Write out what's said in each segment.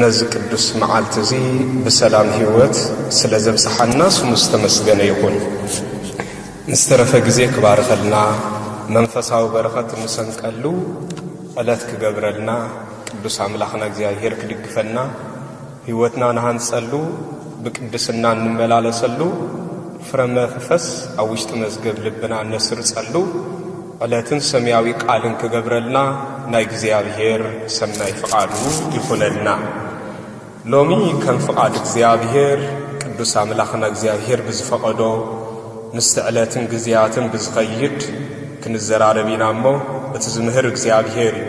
ነዚ ቅዱስ መዓልቲ እዚ ብሰላም ሕይወት ስለ ዘብጽሓና ስሙ ዝተመስገነ ይኹን። ንዝተረፈ ግዜ ክባርኸልና መንፈሳዊ በረኸት እንሰንቀሉ ዕለት ክገብረልና ቅዱስ ኣምላኽና እግዚኣብሔር ክድግፈና ሕይወትና ንሃንጸሉ ብቅድስና እንመላለሰሉ ፍረ መንፈስ ኣብ ውሽጢ መዝገብ ልብና እነስርጸሉ ዕለትን ሰምያዊ ቃልን ክገብረልና ናይ እግዚኣብሔር ሰናይ ፍቃዱ ይኹነልና። ሎሚ ከም ፍቃድ እግዚኣብሔር ቅዱስ ኣምላኽና እግዚኣብሔር ብዝፈቀዶ ምስቲ ዕለትን ግዜያትን ብዝኸይድ ክንዘራረብ ኢና እሞ እቲ ዝምህር እግዚኣብሔር እዩ።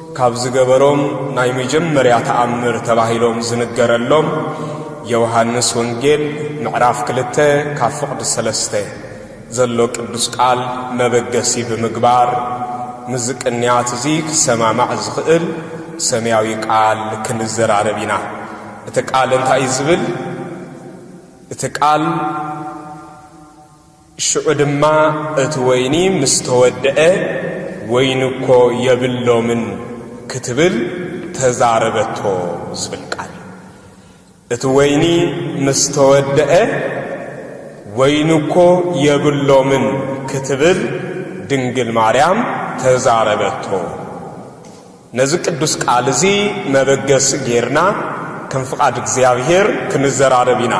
ካብ ዝገበሮም ናይ መጀመርያ ተኣምር ተባሂሎም ዝንገረሎም የውሃንስ ወንጌል ምዕራፍ ክልተ ካብ ፍቕዲ ሰለስተ ዘሎ ቅዱስ ቃል መበገሲ ብምግባር ምስዚ ቅንያት እዚ ክሰማማዕ ዝኽእል ሰምያዊ ቃል ክንዘራረብ ኢና። እቲ ቃል እንታይ እዩ ዝብል? እቲ ቃል ሽዑ ድማ እቲ ወይኒ ምስ ተወድአ፣ ወይኒ እኮ የብሎምን ክትብል ተዛረበቶ ዝብል ቃል እዩ። እቲ ወይኒ ምስ ተወድአ፣ ወይኒ እኮ የብሎምን ክትብል ድንግል ማርያም ተዛረበቶ። ነዚ ቅዱስ ቃል እዚ መበገሲ ገይርና ከም ፍቓድ እግዚኣብሔር ክንዘራረብ ኢና።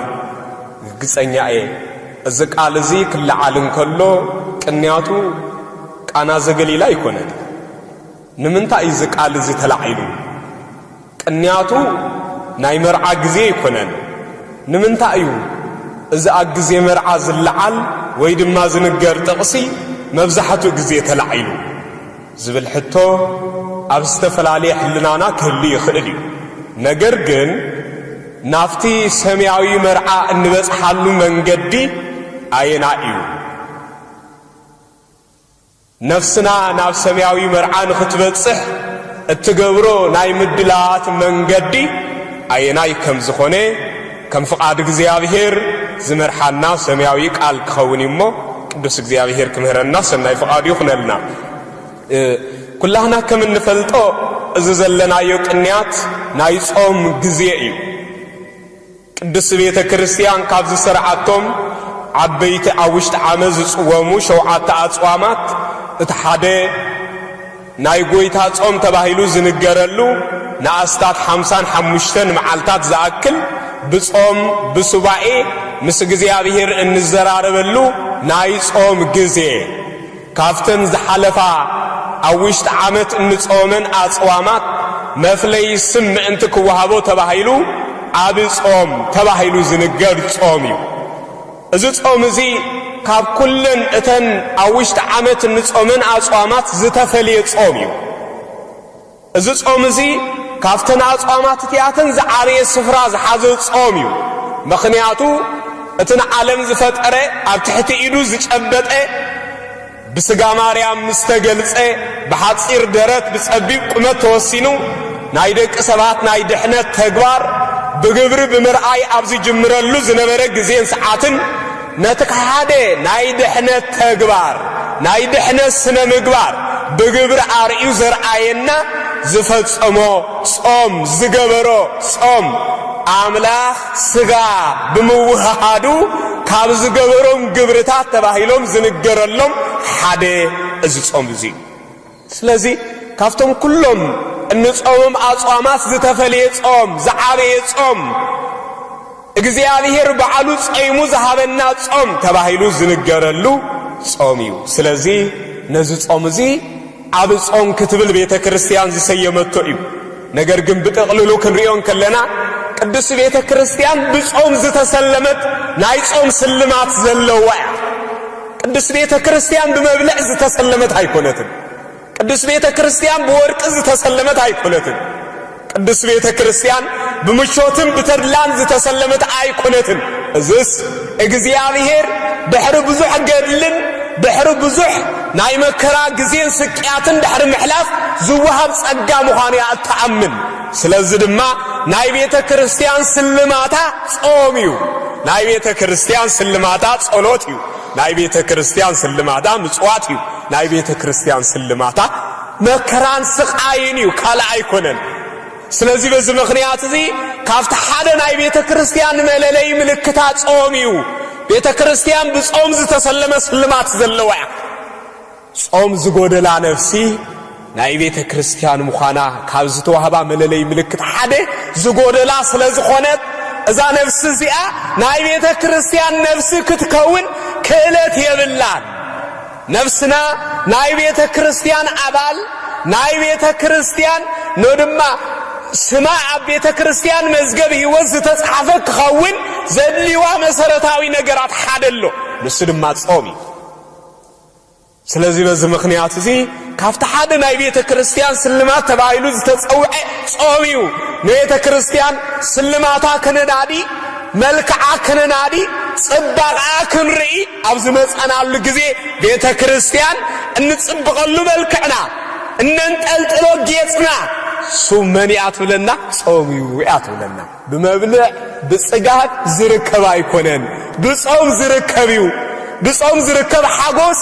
ርግጸኛ እየ እዚ ቃል እዚ ክለዓል እንከሎ ቅንያቱ ቃና ዘገሊላ ኣይኮነን። ንምንታይ እዩ እዚ ቃል እዚ ተላዒሉ? ቅንያቱ ናይ መርዓ ግዜ ኣይኮነን። ንምንታይ እዩ እዚ ኣብ ግዜ መርዓ ዝለዓል ወይ ድማ ዝንገር ጥቕሲ መብዛሕትኡ ግዜ ተላዒሉ? ዝብል ሕቶ ኣብ ዝተፈላለየ ሕልናና ክህሉ ይኽእል እዩ። ነገር ግን ናብቲ ሰማያዊ መርዓ እንበጽሓሉ መንገዲ ኣየናይ እዩ? ነፍስና ናብ ሰማያዊ መርዓ ንኽትበጽሕ እትገብሮ ናይ ምድላዋት መንገዲ ኣየናይ ከም ዝኾነ ከም ፍቓድ እግዚኣብሔር ዝመርሓና ሰማያዊ ቃል ክኸውን እዩ እሞ ቅዱስ እግዚኣብሔር ክምህረና ሰናይ ፍቓዱ ይኹነልና። ኩላህና ከም እንፈልጦ እዚ ዘለናዮ ቅንያት ናይ ጾም ግዜ እዩ። ቅድስት ቤተ ክርስቲያን ካብ ዝሰርዓቶም ዓበይቲ ኣብ ውሽጢ ዓመት ዝጽወሙ ሸውዓተ ኣጽዋማት እቲ ሓደ ናይ ጐይታ ጾም ተባሂሉ ዝንገረሉ ንኣስታት ሓምሳን ሓሙሽተን መዓልታት ዝኣክል ብጾም ብሱባኤ ምስ እግዚኣብሔር እንዘራረበሉ ናይ ጾም ግዜ ካብተን ዝሓለፋ ኣብ ውሽጢ ዓመት እንጾመን ኣጽዋማት መፍለዪ ስም ምእንቲ ክወሃቦ ተባሂሉ ዓቢ ጾም ተባሂሉ ዝንገር ጾም እዩ። እዚ ጾም እዚ ካብ ኩለን እተን ኣብ ውሽጢ ዓመት እንጾመን ኣጽዋማት ዝተፈልየ ጾም እዩ። እዚ ጾም እዚ ካብተን ኣጽዋማት እቲኣተን ዝዓበየ ስፍራ ዝሓዘ ጾም እዩ። ምኽንያቱ እቲ ንዓለም ዝፈጠረ ኣብ ትሕቲ ኢዱ ዝጨበጠ ብስጋ ማርያም ምስ ተገልጸ ብሓጺር ደረት ብጸቢብ ቁመት ተወሲኑ ናይ ደቂ ሰባት ናይ ድሕነት ተግባር ብግብሪ ብምርኣይ ኣብ ዝጅምረሉ ዝነበረ ግዜን ሰዓትን ነቲ ሓደ ናይ ድሕነት ተግባር ናይ ድሕነት ስነ ምግባር ብግብሪ ኣርእዩ ዘርኣየና ዝፈጸሞ ጾም ዝገበሮ ጾም ኣምላኽ ስጋ ብምውህሃዱ ካብ ዝገበሮም ግብርታት ተባሂሎም ዝንገረሎም ሓደ እዚ ጾም እዚ እዩ ስለዚ ካብቶም ኩሎም እንጾምም ኣጽዋማት ዝተፈልየ ጾም ዝዓበየ ጾም እግዚኣብሔር በዓሉ ጸይሙ ዝሃበና ጾም ተባሂሉ ዝንገረሉ ጾም እዩ ስለዚ ነዚ ጾም እዚ ዓቢ ጾም ክትብል ቤተ ክርስቲያን ዝሰየመቶ እዩ። ነገር ግን ብጥቕልሉ ክንሪኦ እንከለና ቅድስቲ ቤተ ክርስቲያን ብጾም ዝተሰለመት ናይ ጾም ስልማት ዘለዋ እያ። ቅድስቲ ቤተ ክርስቲያን ብመብልዕ ዝተሰለመት ኣይኮነትን። ቅድስቲ ቤተ ክርስቲያን ብወርቂ ዝተሰለመት ኣይኮነትን። ቅድስት ቤተ ክርስቲያን ብምቾትን ብተድላን ዝተሰለመት ኣይኮነትን። እዝስ እግዚኣብሔር ድሕሪ ብዙሕ ገድልን ድሕሪ ብዙሕ ናይ መከራ ግዜን ስቅያትን ድሕሪ ምሕላፍ ዝወሃብ ጸጋ ምዃኑ እያ እትኣምን። ስለዚ ድማ ናይ ቤተ ክርስቲያን ስልማታ ጾም እዩ። ናይ ቤተ ክርስቲያን ስልማታ ጸሎት እዩ። ናይ ቤተ ክርስቲያን ስልማታ ምጽዋት እዩ። ናይ ቤተ ክርስቲያን ስልማታ መከራን ስቓይን እዩ ካልእ ኣይኮነን። ስለዚ በዚ ምኽንያት እዚ ካብቲ ሓደ ናይ ቤተ ክርስቲያን መለለይ ምልክታ ጾም እዩ። ቤተ ክርስቲያን ብጾም ዝተሰለመ ስልማት ዘለዋ እያ። ጾም ዝጎደላ ነፍሲ ናይ ቤተ ክርስቲያን ምዃና ካብ ዝተዋህባ መለለይ ምልክት ሓደ ዝጎደላ ስለ ዝኾነት እዛ ነፍሲ እዚኣ ናይ ቤተ ክርስቲያን ነፍሲ ክትከውን ክእለት የብላን። ነፍስና ናይ ቤተ ክርስቲያን ኣባል ናይ ቤተ ክርስቲያን ኖ ድማ ስማ ኣብ ቤተ ክርስቲያን መዝገብ ሕይወት ዝተጽሓፈ ክኸውን ዘድልዋ መሰረታዊ ነገራት ሓደ ኣሎ ንሱ ድማ ጾም እዩ ስለዚ በዚ ምኽንያት እዚ ካብቲ ሓደ ናይ ቤተ ክርስቲያን ስልማት ተባሂሉ ዝተጸውዐ ጾም እዩ ንቤተ ክርስቲያን ስልማታ ከነናዲ መልክዓ ከነናዲ ጽባቕኣ ክንርኢ ኣብ ዝመጸናሉ ግዜ ቤተ ክርስቲያን እንጽብቐሉ መልክዕና እነንጠልጥሎ ጌጽና ሱብ መን እያ ትብለና? ጾም እዩ እያ ትብለና። ብመብልዕ ብጽጋብ ዝርከብ ኣይኮነን፣ ብጾም ዝርከብ እዩ። ብጾም ዝርከብ ሓጎስ፣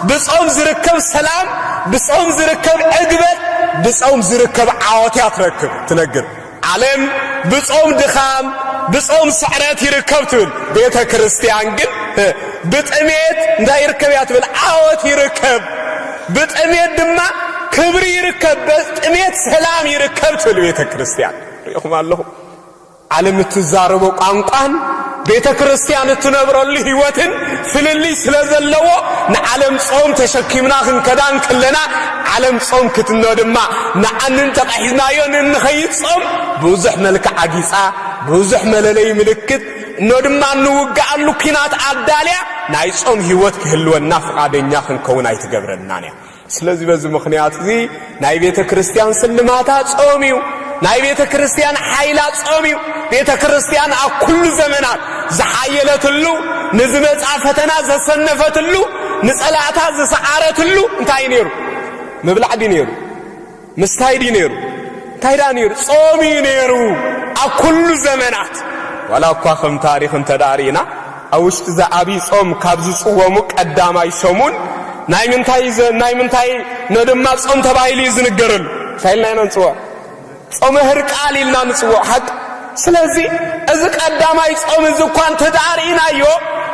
ብጾም ዝርከብ ሰላም፣ ብጾም ዝርከብ ዕግበት፣ ብጾም ዝርከብ ዓወት እያ ትረክብ ትነግር ዓለም ብጾም ድኻም ብጾም ስዕረት ይርከብ ትብል ቤተ ክርስቲያን ግን ብጥሜት እንታይ ይርከብ እያ ትብል ዓወት ይርከብ ብጥሜት ድማ ክብሪ ይርከብ ብጥሜት ሰላም ይርከብ ትብል ቤተ ክርስቲያን ሪኢኹም ኣለኹም ዓለም እትዛረቦ ቋንቋን ቤተ ክርስቲያን እትነብረሉ ሕይወትን ፍልልይ ስለ ዘለዎ ንዓለም ጾም ተሸኪምና ክንከዳ እንክለና ዓለም ጾም ክትኖ ድማ ንዓንን ተቐሒዝናዮ ንንኸይድ ጾም ብዙሕ መልክዕ ኣጊጻ ብዙሕ መለለይ ምልክት እኖ ድማ እንውግኣሉ ኲናት ኣዳልያ ናይ ጾም ሕይወት ክህልወና ፍቓደኛ ክንከውን ኣይትገብረልናን እያ። ስለዚ በዚ ምኽንያት እዚ ናይ ቤተ ክርስቲያን ስልማታ ጾም እዩ። ናይ ቤተ ክርስቲያን ሓይላ ጾም እዩ። ቤተ ክርስቲያን ኣብ ኩሉ ዘመናት ዝሓየለትሉ፣ ንዝመጻ ፈተና ዘሰነፈትሉ፣ ንጸላእታ ዝሰዓረትሉ እንታይ እዩ ነይሩ? ምብላዕ ድዩ ነይሩ? ምስታይ ድዩ ነይሩ? እንታይ ደኣ ነይሩ? ጾም እዩ ነይሩ ኣብ ኩሉ ዘመናት። ዋላ እኳ ከም ታሪኽ እንተ ደኣ ርኢና ኣብ ውሽጢ እዚ ዓብዪ ጾም ካብ ዝጽወሙ ቀዳማይ ሰሙን ናይ ምንታይ ናይ ምንታይ ን ድማ ጾም ተባሂሉ እዩ ዝንገረሉ። እንታይ ኢልና ኢና ንጽውዖ? ጾመ ህርቃል ኢልና ንጽውዖ። ሓቂ ስለዚ እዚ ቀዳማይ ጾም እዚ እኳ እንተ ደኣ ርኢናዮ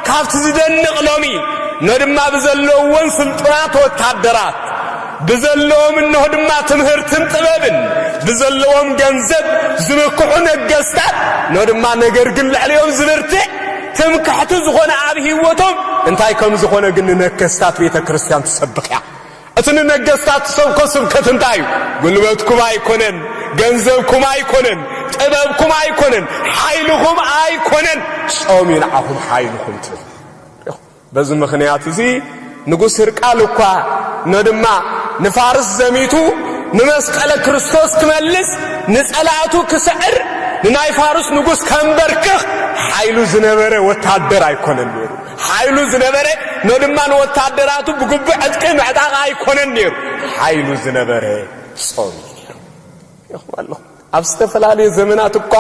ካብቲ ዝደንቕ ሎሚ እነሆ ድማ ብዘለውዎን ስልጡናት ወታደራት ብዘለዎም እነሆ ድማ ትምህርትን ጥበብን ብዘለዎም ገንዘብ ዝምክሑ ነገስታት እነሆ ድማ ነገር ግን ልዕሊኦም ዝብርትዕ ትምክሕቲ ዝኾነ ኣብ ህይወቶም እንታይ ከም ዝኾነ ግን ንነከስታት ቤተ ክርስቲያን ትሰብኽ እያ እቲ ንነገስታት ትሰብኮ ስብከት እንታይ እዩ? ጉልበትኩም ኣይኮነን፣ ገንዘብኩም ኣይኮነን፣ ጥበብኩም ኣይኮነን፣ ሓይልኹም ኣይኮነን፣ ጾም እዩ ንዓኹም ሓይልኹም ትብል። በዚ ምኽንያት እዚ ንጉስ ህርቃል እኳ ነድማ ንፋርስ ዘሚቱ ንመስቀለ ክርስቶስ ክመልስ ንጸላእቱ ክስዕር ንናይ ፋርስ ንጉስ ከንበርክኽ ሓይሉ ዝነበረ ወታደር ኣይኮነን ነይሩ። ሓይሉ ዝነበረ ን ድማ ንወታደራቱ ብግቡእ ዕጥቂ ምዕጣቕ ኣይኮነን ነይሩ ሓይሉ ዝነበረ ጾም እዩ ነይሩ ኢኹም ኣለኹም ኣብ ዝተፈላለየ ዘመናት እኳ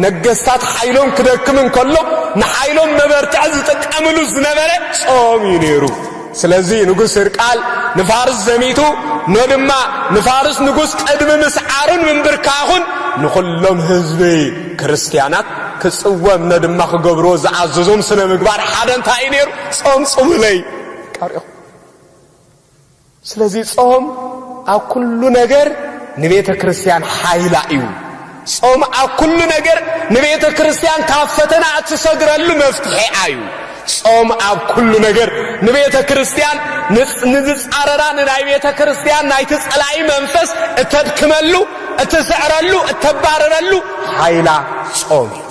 ነገስታት ሓይሎም ክደክም እንከሎ ንሓይሎም መበርትዒ ዝጥቀምሉ ዝነበረ ጾም እዩ ነይሩ ስለዚ ንጉስ ህርቃል ንፋርስ ዘሚቱ ኖ ድማ ንፋርስ ንጉስ ቅድሚ ምስዓሩን ምንብርካኹን ንዅሎም ህዝቢ ክርስትያናት ክጽወም ኖ ድማ ክገብርዎ ዝኣዘዞም ስነ ምግባር ሓደ እንታይ እዩ ነይሩ? ጾም ጽሙለይ ቀሪኹ። ስለዚ ጾም ኣብ ኩሉ ነገር ንቤተ ክርስትያን ሓይላ እዩ። ጾም ኣብ ኩሉ ነገር ንቤተ ክርስቲያን ካብ ፈተና እትሰግረሉ መፍትሒ ኣዩ። ጾም ኣብ ኩሉ ነገር ንቤተ ክርስቲያን ንዝጻረራ ንናይ ቤተ ክርስቲያን ናይቲ ጸላኢ መንፈስ እተድክመሉ፣ እትስዕረሉ፣ እተባርረሉ ሓይላ ጾም እዩ።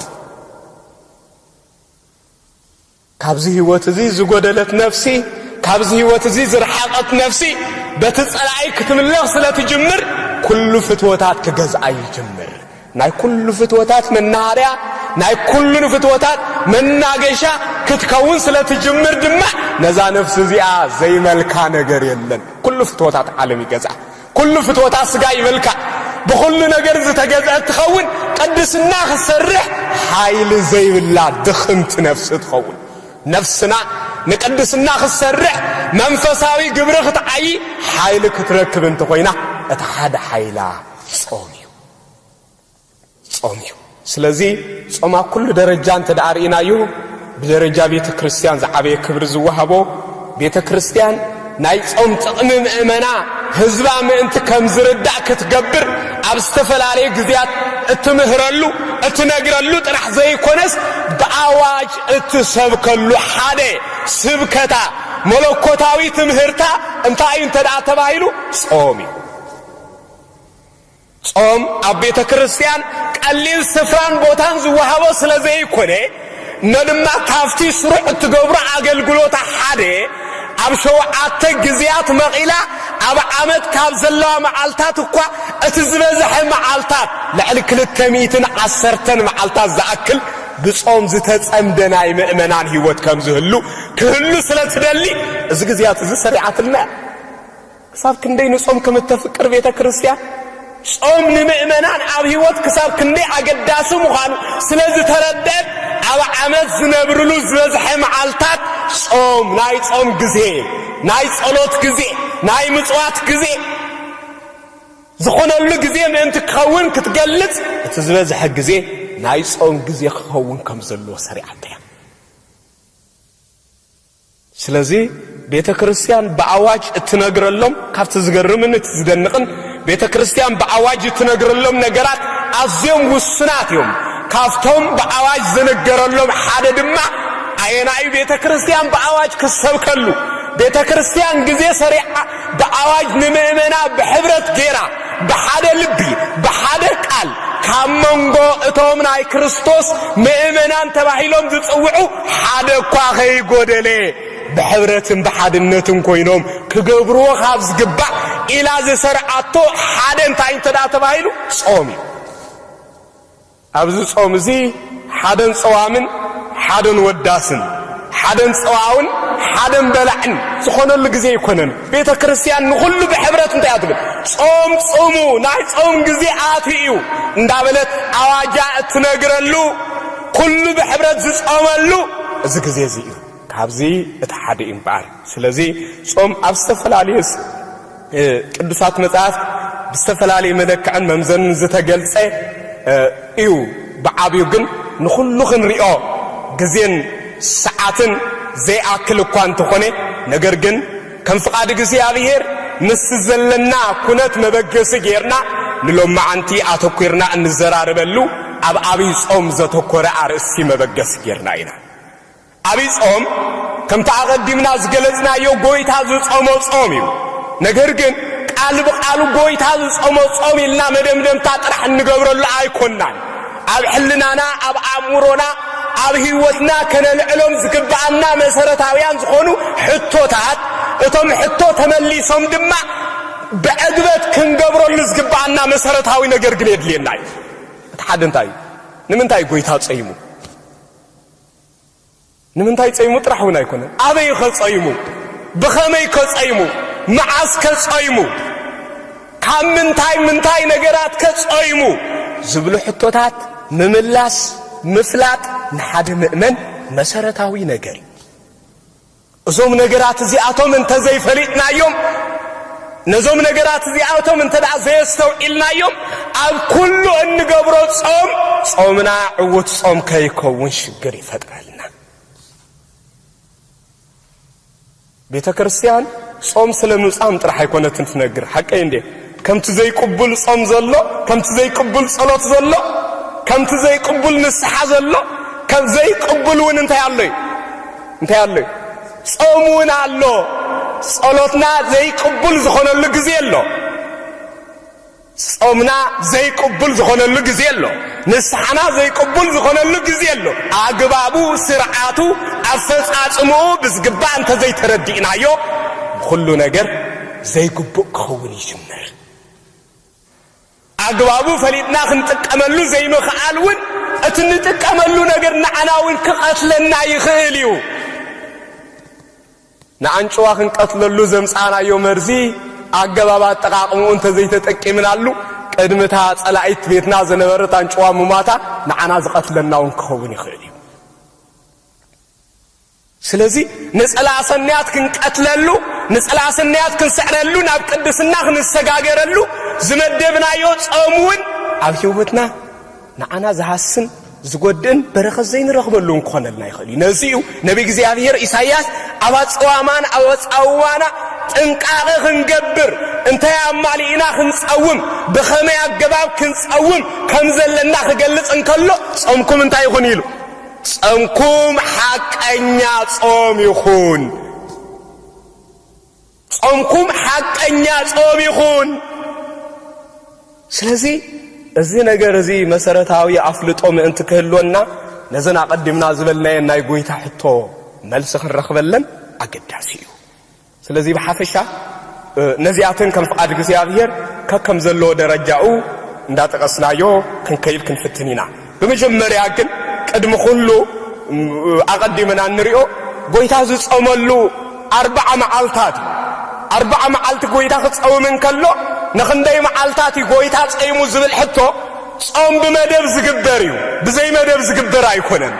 ካብዚ ህይወት እዚ ዝጎደለት ነፍሲ፣ ካብዚ ህይወት እዚ ዝረሓቐት ነፍሲ፣ በቲ ጸላኢ ክትምለኽ ስለ ትጅምር፣ ኩሉ ፍትወታት ክገዝኣ ይጅምር። ናይ ኩሉ ፍትወታት መናሃርያ፣ ናይ ኩሉ ፍትወታት መናገሻ ክትከውን ስለ ትጅምር ድማ፣ ነዛ ነፍሲ እዚኣ ዘይመልካ ነገር የለን። ኩሉ ፍትወታት ዓለም ይገዝኣ። ኩሉ ፍትወታ ስጋ ይበልካ ብኹሉ ነገር ዝተገዝዐት ትኸውን ቅድስና ክትሰርሕ ሓይሊ ዘይብላ ድኽምቲ ነፍሲ ትኸውን ነፍስና ንቅድስና ክትሰርሕ መንፈሳዊ ግብሪ ክትዓይ ሓይሊ ክትረክብ እንተኾይና እቲ ሓደ ሓይላ ጾም እዩ ጾም እዩ። ስለዚ ጾም ኣብ ኩሉ ደረጃ እንተ ደኣ ርኢናዮ ብደረጃ ቤተ ክርስቲያን ዝዓበየ ክብሪ ዝወሃቦ ቤተ ክርስቲያን ናይ ጾም ጥቕሚ ምእመና ህዝባ ምእንቲ ከም ዝርዳእ ክትገብር ኣብ ዝተፈላለዩ ግዜያት እትምህረሉ እትነግረሉ ጥራሕ ዘይኮነስ ብኣዋጅ እትሰብከሉ ሓደ ስብከታ መለኮታዊ ትምህርታ እንታይ እዩ እንተ ተባሂሉ ጾም እዩ ጾም ኣብ ቤተ ክርስቲያን ቀሊል ስፍራን ቦታን ዝወሃቦ ስለ ዘይኮነ እሞ ድማ ካብቲ ስሩዕ እትገብሮ ኣገልግሎታ ሓደ ኣብ ሸውዓተ ግዜያት መቒላ ኣብ ዓመት ካብ ዘለዋ መዓልታት እኳ እቲ ዝበዝሐ መዓልታት ልዕሊ ክልተ ሚእትን ዓሰርተን መዓልታት ዝኣክል ብጾም ዝተጸምደ ናይ ምእመናን ህይወት ከም ዝህሉ ክህሉ ስለ እትደሊ እዚ ግዜያት እዚ ሰሪዓትልና እያ። ክሳብ ክንደይ ንጾም ከም እተፍቅር ቤተ ክርስትያን፣ ጾም ንምእመናን ኣብ ሕይወት ክሳብ ክንደይ ኣገዳሲ ምዃኑ ስለ ዝተረድአት ኣብ ዓመት ዝነብርሉ ዝበዝሐ መዓልታት ጾም ናይ ጾም ግዜ፣ ናይ ጸሎት ግዜ፣ ናይ ምጽዋት ግዜ ዝኾነሉ ግዜ ምእንቲ ክኸውን ክትገልጽ እቲ ዝበዝሐ ግዜ ናይ ጾም ግዜ ክኸውን ከም ዘለዎ ሰሪዓቶ እያ። ስለዚ ቤተ ክርስቲያን ብኣዋጅ እትነግረሎም ካብቲ ዝገርምን እቲ ዝደንቕን ቤተ ክርስቲያን ብኣዋጅ እትነግረሎም ነገራት ኣዝዮም ውሱናት እዮም። ካብቶም ብኣዋጅ ዝንገረሎም ሓደ ድማ ኣየናይ ቤተ ክርስቲያን ብኣዋጅ ክሰብከሉ ቤተ ክርስቲያን ግዜ ሰሪዓ ብኣዋጅ ንምእመና ብሕብረት ጌራ ብሓደ ልቢ ብሓደ ቃል ካብ መንጎ እቶም ናይ ክርስቶስ ምእመናን ተባሂሎም ዝጽውዑ ሓደ እኳ ከይጎደለ ብሕብረትን ብሓድነትን ኮይኖም ክገብርዎ ካብ ዝግባእ ኢላ ዝሰርዓቶ ሓደ እንታይ እንተ ተባሂሉ ጾም እዩ። ኣብዚ ጾም እዚ ሓደን ጸዋምን ሓደን ወዳስን ሓደን ጸዋውን ሓደን በላዕን ዝኾነሉ ግዜ ኣይኮነን። ቤተ ክርስቲያን ንኹሉ ብሕብረት እንታይ እያ ትብል? ጾም ጽሙ፣ ናይ ጾም ግዜ ኣትዩ እዩ እንዳበለት ኣዋጃ እትነግረሉ ኩሉ ብሕብረት ዝጾመሉ እዚ ግዜ እዚ እዩ። ካብዚ እቲ ሓደ እዩ እምበኣር። ስለዚ ጾም ኣብ ዝተፈላለየ ቅዱሳት መጻሕፍት ብዝተፈላለየ መለክዕን መምዘንን ዝተገልጸ እዩ። ብዓቢኡ ግን ንኹሉ ክንሪኦ ግዜን ሰዓትን ዘይኣክል እኳ እንተኾነ ነገር ግን ከም ፍቓድ እግዚኣብሔር ምስቲ ዘለና ኩነት መበገሲ ጌርና ንሎማዓንቲ ኣተኲርና እንዘራረበሉ ኣብ ኣብይ ጾም ዘተኮረ ኣርእስቲ መበገሲ ጌርና ኢና ኣብይ ጾም ከምቲ ኣቐዲምና ዝገለጽናዮ ጎይታ ዝጾሞ ጾም እዩ። ነገር ግን ቃል ብቓሉ ጎይታ ዝጾሞ ጾም ኢልና መደምደምታ ጥራሕ እንገብረሉ ኣይኮናን። ኣብ ሕልናና፣ ኣብ ኣእምሮና፣ ኣብ ህይወትና ከነልዕሎም ዝግብኣና መሰረታውያን ዝኾኑ ሕቶታት እቶም ሕቶ ተመሊሶም ድማ ብዕግበት ክንገብረሉ ዝግብኣና መሰረታዊ ነገር ግን የድልየና እዩ። እቲ ሓደ እንታይ እዩ? ንምንታይ ጎይታ ጸይሙ? ንምንታይ ጸይሙ ጥራሕ እውን ኣይኮነን፣ ኣበይኸ ጸይሙ፣ ብኸመይከ ጸይሙ፣ መዓስከ ጸይሙ፣ ካብ ምንታይ ምንታይ ነገራትከ ጸይሙ ዝብሉ ሕቶታት ምምላስ፣ ምፍላጥ ንሓደ ምእመን መሰረታዊ ነገር እዩ። እዞም ነገራት እዚኣቶም እንተ ዘይፈሊጥናዮም፣ ነዞም ነገራት እዚኣቶም እንተ ደኣ ዘየስተውዒልናዮም፣ ኣብ ኩሉ እንገብሮ ጾም፣ ጾምና ዕውት ጾም ከይከውን ሽግር ይፈጥረልና። ቤተ ክርስቲያን ጾም ስለ ምጻም ጥራሕ ኣይኮነትን ትነግር፣ ሓቀይ እንዴ? ከምቲ ዘይቅቡል ጾም ዘሎ፣ ከምቲ ዘይቅቡል ጸሎት ዘሎ፣ ከምቲ ዘይቅቡል ንስሓ ዘሎ፣ ከም ዘይቅቡል እውን እንታይ ኣሎ እዩ? እንታይ ኣሎ እዩ? ጾም እውን ኣሎ። ጸሎትና ዘይቅቡል ዝኾነሉ ግዜ ኣሎ። ጾምና ዘይቅቡል ዝኾነሉ ግዜ ኣሎ። ንስሓና ዘይቅቡል ዝኾነሉ ግዜ ኣሎ። ኣግባቡ፣ ስርዓቱ፣ ኣፈጻጽምኡ ብዝግባእ እንተዘይተረዲእናዮ ብኹሉ ነገር ዘይግቡእ ክኸውን ይጅምር። ኣግባቡ ፈሊጥና ክንጥቀመሉ ዘይምኽኣል እውን እቲ ንጥቀመሉ ነገር ንዓና እውን ክቐትለና ይኽእል እዩ። ንኣንጭዋ ክንቀትለሉ ዘምጻእናዮ መርዚ ኣገባብ ኣጠቓቕምኡ እንተዘይተጠቂምናሉ ቅድሚ እታ ጸላኢት ቤትና ዝነበረት ኣንጭዋ ምሟታ ንዓና ዝቐትለና እውን ክኸውን ይኽእል እዩ። ስለዚ ነጸላ ኣሰንያት ክንቀትለሉ፣ ነጸላ ኣሰንያት ክንስዕረሉ፣ ናብ ቅድስና ክንሰጋገረሉ ዝመደብናዮ ጾም እውን ኣብ ሕይወትና ንዓና ዝሃስን ዝጐድእን በረኸት ዘይንረኽበሉ እውን ክኾነልና ይኽእል እዩ። ነዚ እዩ ነቢ እግዚኣብሔር ኢሳይያስ ኣብ ኣጸዋማን ኣብ ኣጻውዋና ጥንቃቐ ክንገብር እንታይ ኣማሊእና ክንጸውም ብኸመይ ኣገባብ ክንጸውም ከም ዘለና ክገልጽ እንከሎ ጾምኩም እንታይ ይኹን ኢሉ ጸምኩም ሓቀኛ ጾም ይኹን። ጾምኩም ሓቀኛ ጾም ይኹን። ስለዚ እዚ ነገር እዚ መሰረታዊ ኣፍልጦ ምእንቲ ክህልወና ነዘን ኣቐዲምና ዝበልናየን ናይ ጎይታ ሕቶ መልሲ ክንረኽበለን ኣገዳሲ እዩ። ስለዚ ብሓፈሻ ነዚኣተን ከም ፍቓድ እግዚኣብሔር ከከም ዘለዎ ደረጃኡ እንዳጠቐስናዮ ክንከይድ ክንፍትን ኢና። ብመጀመርያ ግን ቅድሚ ኩሉ ኣቐዲምና እንሪኦ ጎይታ ዝጸመሉ ኣርብዓ መዓልታት እዩ። ኣርብዓ መዓልቲ ጎይታ ክጸውም እንከሎ ንኽንደይ መዓልታት እዩ ጎይታ ጸይሙ ዝብል ሕቶ ጾም ብመደብ ዝግበር እዩ፣ ብዘይ መደብ ዝግበር ኣይኮነን።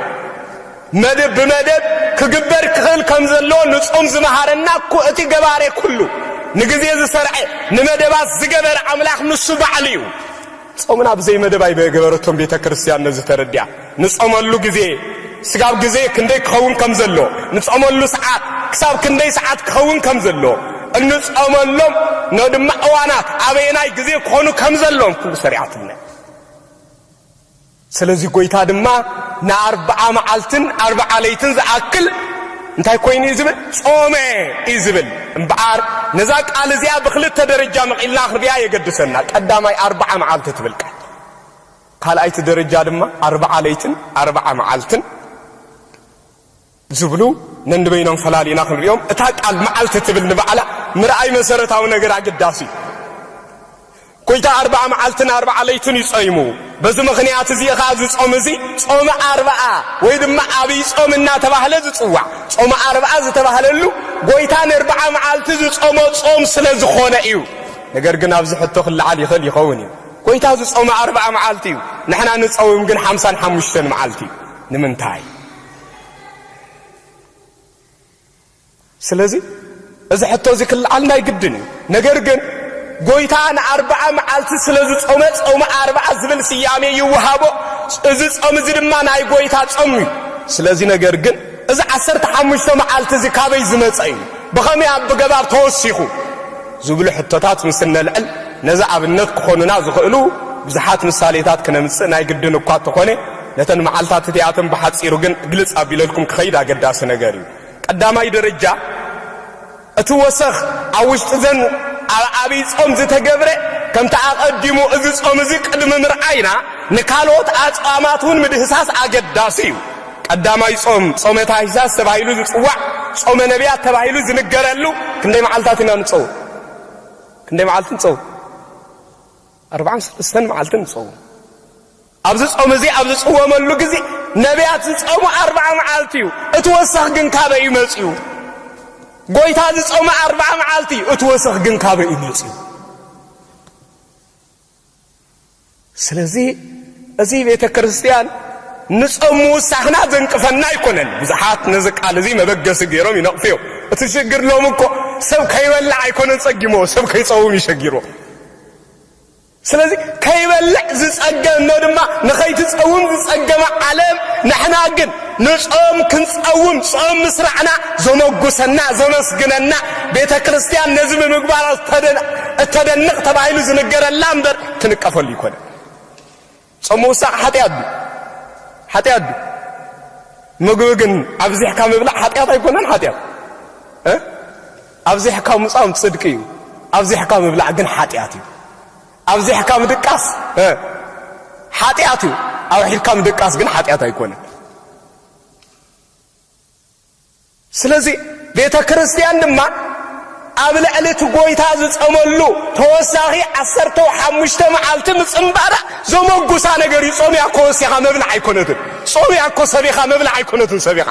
መደብ ብመደብ ክግበር ክኽእል ከም ዘለዎ ንጾም ዝመሃረና እኮ እቲ ገባሬ ኩሉ ንግዜ ዝሰርዐ ንመደባት ዝገበረ ኣምላኽ ንሱ ባዕሉ እዩ። ጾምና ብዘይ መደብ ኣይበገበረቶን ቤተክርስትያን ነዚ ተረዲኣ ንጾመሉ ግዜ ስጋብ ግዜ ክንደይ ክኸውን ከም ዘለዎ ንጾመሉ ሰዓት ክሳብ ክንደይ ሰዓት ክኸውን ከም ዘለዎ እንጾመሎም ነድማ እዋናት ኣበየናይ ግዜ ክኾኑ ከም ዘለዎም ኩሉ ሰሪዓትልና። ስለዚ ጐይታ ድማ ንኣርብዓ መዓልትን ኣርብዓ ለይትን ዝኣክል እንታይ ኰይኑ እዩ ዝብል? ጾመ እዩ ዝብል። እምበኣር ነዛ ቃል እዚኣ ብኽልተ ደረጃ መቒልና ክንርእያ የገድሰና። ቀዳማይ ኣርብዓ መዓልቲ ትብል ቃል፣ ካልኣይቲ ደረጃ ድማ ኣርብዓ ለይትን ኣርብዓ መዓልትን ዝብሉ ነንበይኖም ፈላሊና ክንሪኦም እታ ቃል መዓልቲ ትብል ንባዕላ ምርኣይ መሰረታዊ ነገር ኣገዳሲ እዩ። ጎይታ ኣርብዓ መዓልትን ኣርብዓ ለይትን እዩ ጸይሙ። በዚ ምኽንያት እዚ ኸኣ እዚ ጾም እዚ ጾመ ኣርብዓ ወይ ድማ ኣብይ ጾም እናተባህለ ዝጽዋዕ። ጾመ ኣርብዓ ዝተባህለሉ ጎይታ ንርብዓ መዓልቲ ዝጾሞ ጾም ስለ ዝኾነ እዩ። ነገር ግን ኣብዚ ሕቶ ክለዓል ይኽእል ይኸውን እዩ። ጎይታ ዝጾመ ኣርብዓ መዓልቲ እዩ፣ ንሕና ንጸውም ግን ሓምሳን ሓሙሽተን መዓልቲ እዩ። ንምንታይ? ስለዚ እዚ ሕቶ እዚ ክልዓል ናይ ግድን እዩ። ነገር ግን ጎይታ ንኣርብዓ መዓልቲ ስለ ዝጾመ ጾመ ኣርብዓ ዝብል ስያሜ ይወሃቦ። እዚ ጾም እዚ ድማ ናይ ጎይታ ጾም እዩ። ስለዚ ነገር ግን እዚ ዓሰርተ ሓሙሽተ መዓልቲ እዚ ካበይ ዝመጸ እዩ? ብኸመይ ኣብገባር ተወሲኹ? ዝብሉ ሕቶታት ምስ እነልዕል ነዚ ኣብነት ክኾኑና ዝኽእሉ ብዙሓት ምሳሌታት ክነምጽእ ናይ ግድን እኳ እንተኾነ ነተን መዓልታት እቲኣተን ብሓጺሩ ግን ግልጽ ኣቢለልኩም ክኸይድ ኣገዳሲ ነገር እዩ። ቀዳማይ ደረጃ እቲ ወሰኽ ኣብ ውሽጢዘን ኣብ ኣብይ ጾም ዝተገብረ ከምቲ ኣቐዲሙ እዚ ጾም እዚ ቅድሚ ምርኣይና ንካልኦት ኣጽዋማት እውን ምድህሳስ ኣገዳሲ እዩ። ቀዳማይ ጾም ጾመ ታኅሳስ ተባሂሉ ዝጽዋዕ ጾመ ነቢያት ተባሂሉ ዝንገረሉ ክንደይ መዓልታት ኢና ንጸውም? ክንደይ መዓልቲ ንጸውም? ኣርብዓን ሰለስተን መዓልቲ ንጸውም። ኣብዚ ጾም እዚ ኣብ ዝጽወመሉ ግዜ ነብያት ዝጸሙ ኣርብዓ መዓልቲ እዩ፣ እቲ ወሰኽ ግን ካበይ እዩ መጺኡ? ጎይታ ዝጸመ ኣርብዓ መዓልቲ እዩ፣ እቲ ወሰኽ ግን ካበይ እዩ መጺኡ? ስለዚ እዚ ቤተ ክርስቲያን ንጾም ምውሳኽና ዘንቅፈና ኣይኮነን። ብዙሓት ነዚ ቃል እዚ መበገሲ ገይሮም ይነቕፉ እዮም። እቲ ሽግር ሎም እኮ ሰብ ከይበላዕ ኣይኮነን ጸጊሞ፣ ሰብ ከይጸውም ይሸጊሮ። ስለዚ ከይበልዕ ዝጸገ እኖ ድማ ንኸይትጸውም ዝጸገመ ዓለም ንሕና ግን ንጾም ክንጸውም ጾም ምስራዕና ዘመጉሰና ዘመስግነና ቤተ ክርስቲያን ነዚ ብምግባራ እተደንቕ ተባሂሉ ዝንገረላ እምበር ትንቀፈሉ ይኮነ። ጾም ምውሳዕ ሓጢኣት ድዩ? ሓጢኣት ድዩ? ምግቢ ግን ኣብዚሕካ ምብላዕ ሓጢኣት ኣይኮነን? ሓጢኣት ኣብዚሕካ ምጻም ጽድቂ እዩ፣ ኣብዚሕካ ምብላዕ ግን ሓጢኣት እዩ። ኣብዚሕካ ምድቃስ ሓጢኣት እዩ፣ ኣውሒድካ ምድቃስ ግን ሓጢኣት ኣይኮነን። ስለዚ ቤተ ክርስቲያን ድማ ኣብ ልዕሊ እቲ ጐይታ ዝጸመሉ ተወሳኺ ዓሰርተው ሓሙሽተ መዓልቲ ምጽንባራ ዘመጉሳ ነገር እዩ። ጾም ያኮ ወሲኻ መብልዕ ኣይኮነትን። ጾም ያኮ ሰቢኻ መብልዕ ኣይኮነትን ሰቢኻ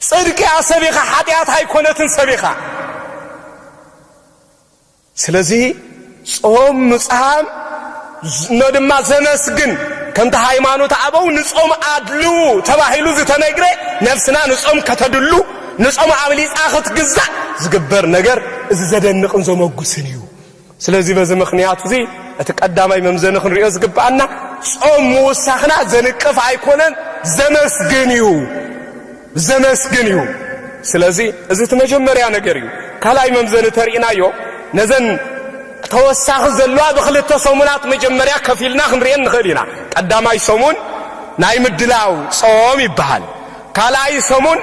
ጽድቅያ ሰቢኻ ሓጢኣት ኣይኮነትን ሰቢኻ ስለዚ ጾም ምጽሃም እኖ ድማ ዘመስግን ከምቲ ሃይማኖት ኣበው ንጾም ኣድልዉ ተባሂሉ ዝተነግረ ነፍስና ንጾም ከተድሉ ንጾም ኣብሊጻ ክትግዛእ ዝግበር ነገር እዚ ዘደንቕን ዘመጉስን እዩ። ስለዚ በዚ ምኽንያት እዚ እቲ ቀዳማይ መምዘኒ ክንሪኦ ዝግብኣና ጾም ምውሳኽና ዘንቅፍ ኣይኮነን ዘመስግን እዩ። ዘመስግን እዩ ስለዚ እዚ እቲ መጀመርያ ነገር እዩ ካልኣይ መምዘኒ ተሪኢናዮ ነዘን ተወሳኺ ዘለዋ ብክልተ ሰሙናት መጀመርያ ከፊልና ክንሪኤን ንኽእል ኢና ቀዳማይ ሰሙን ናይ ምድላው ጾም ይበሃል ካልኣይ ሰሙን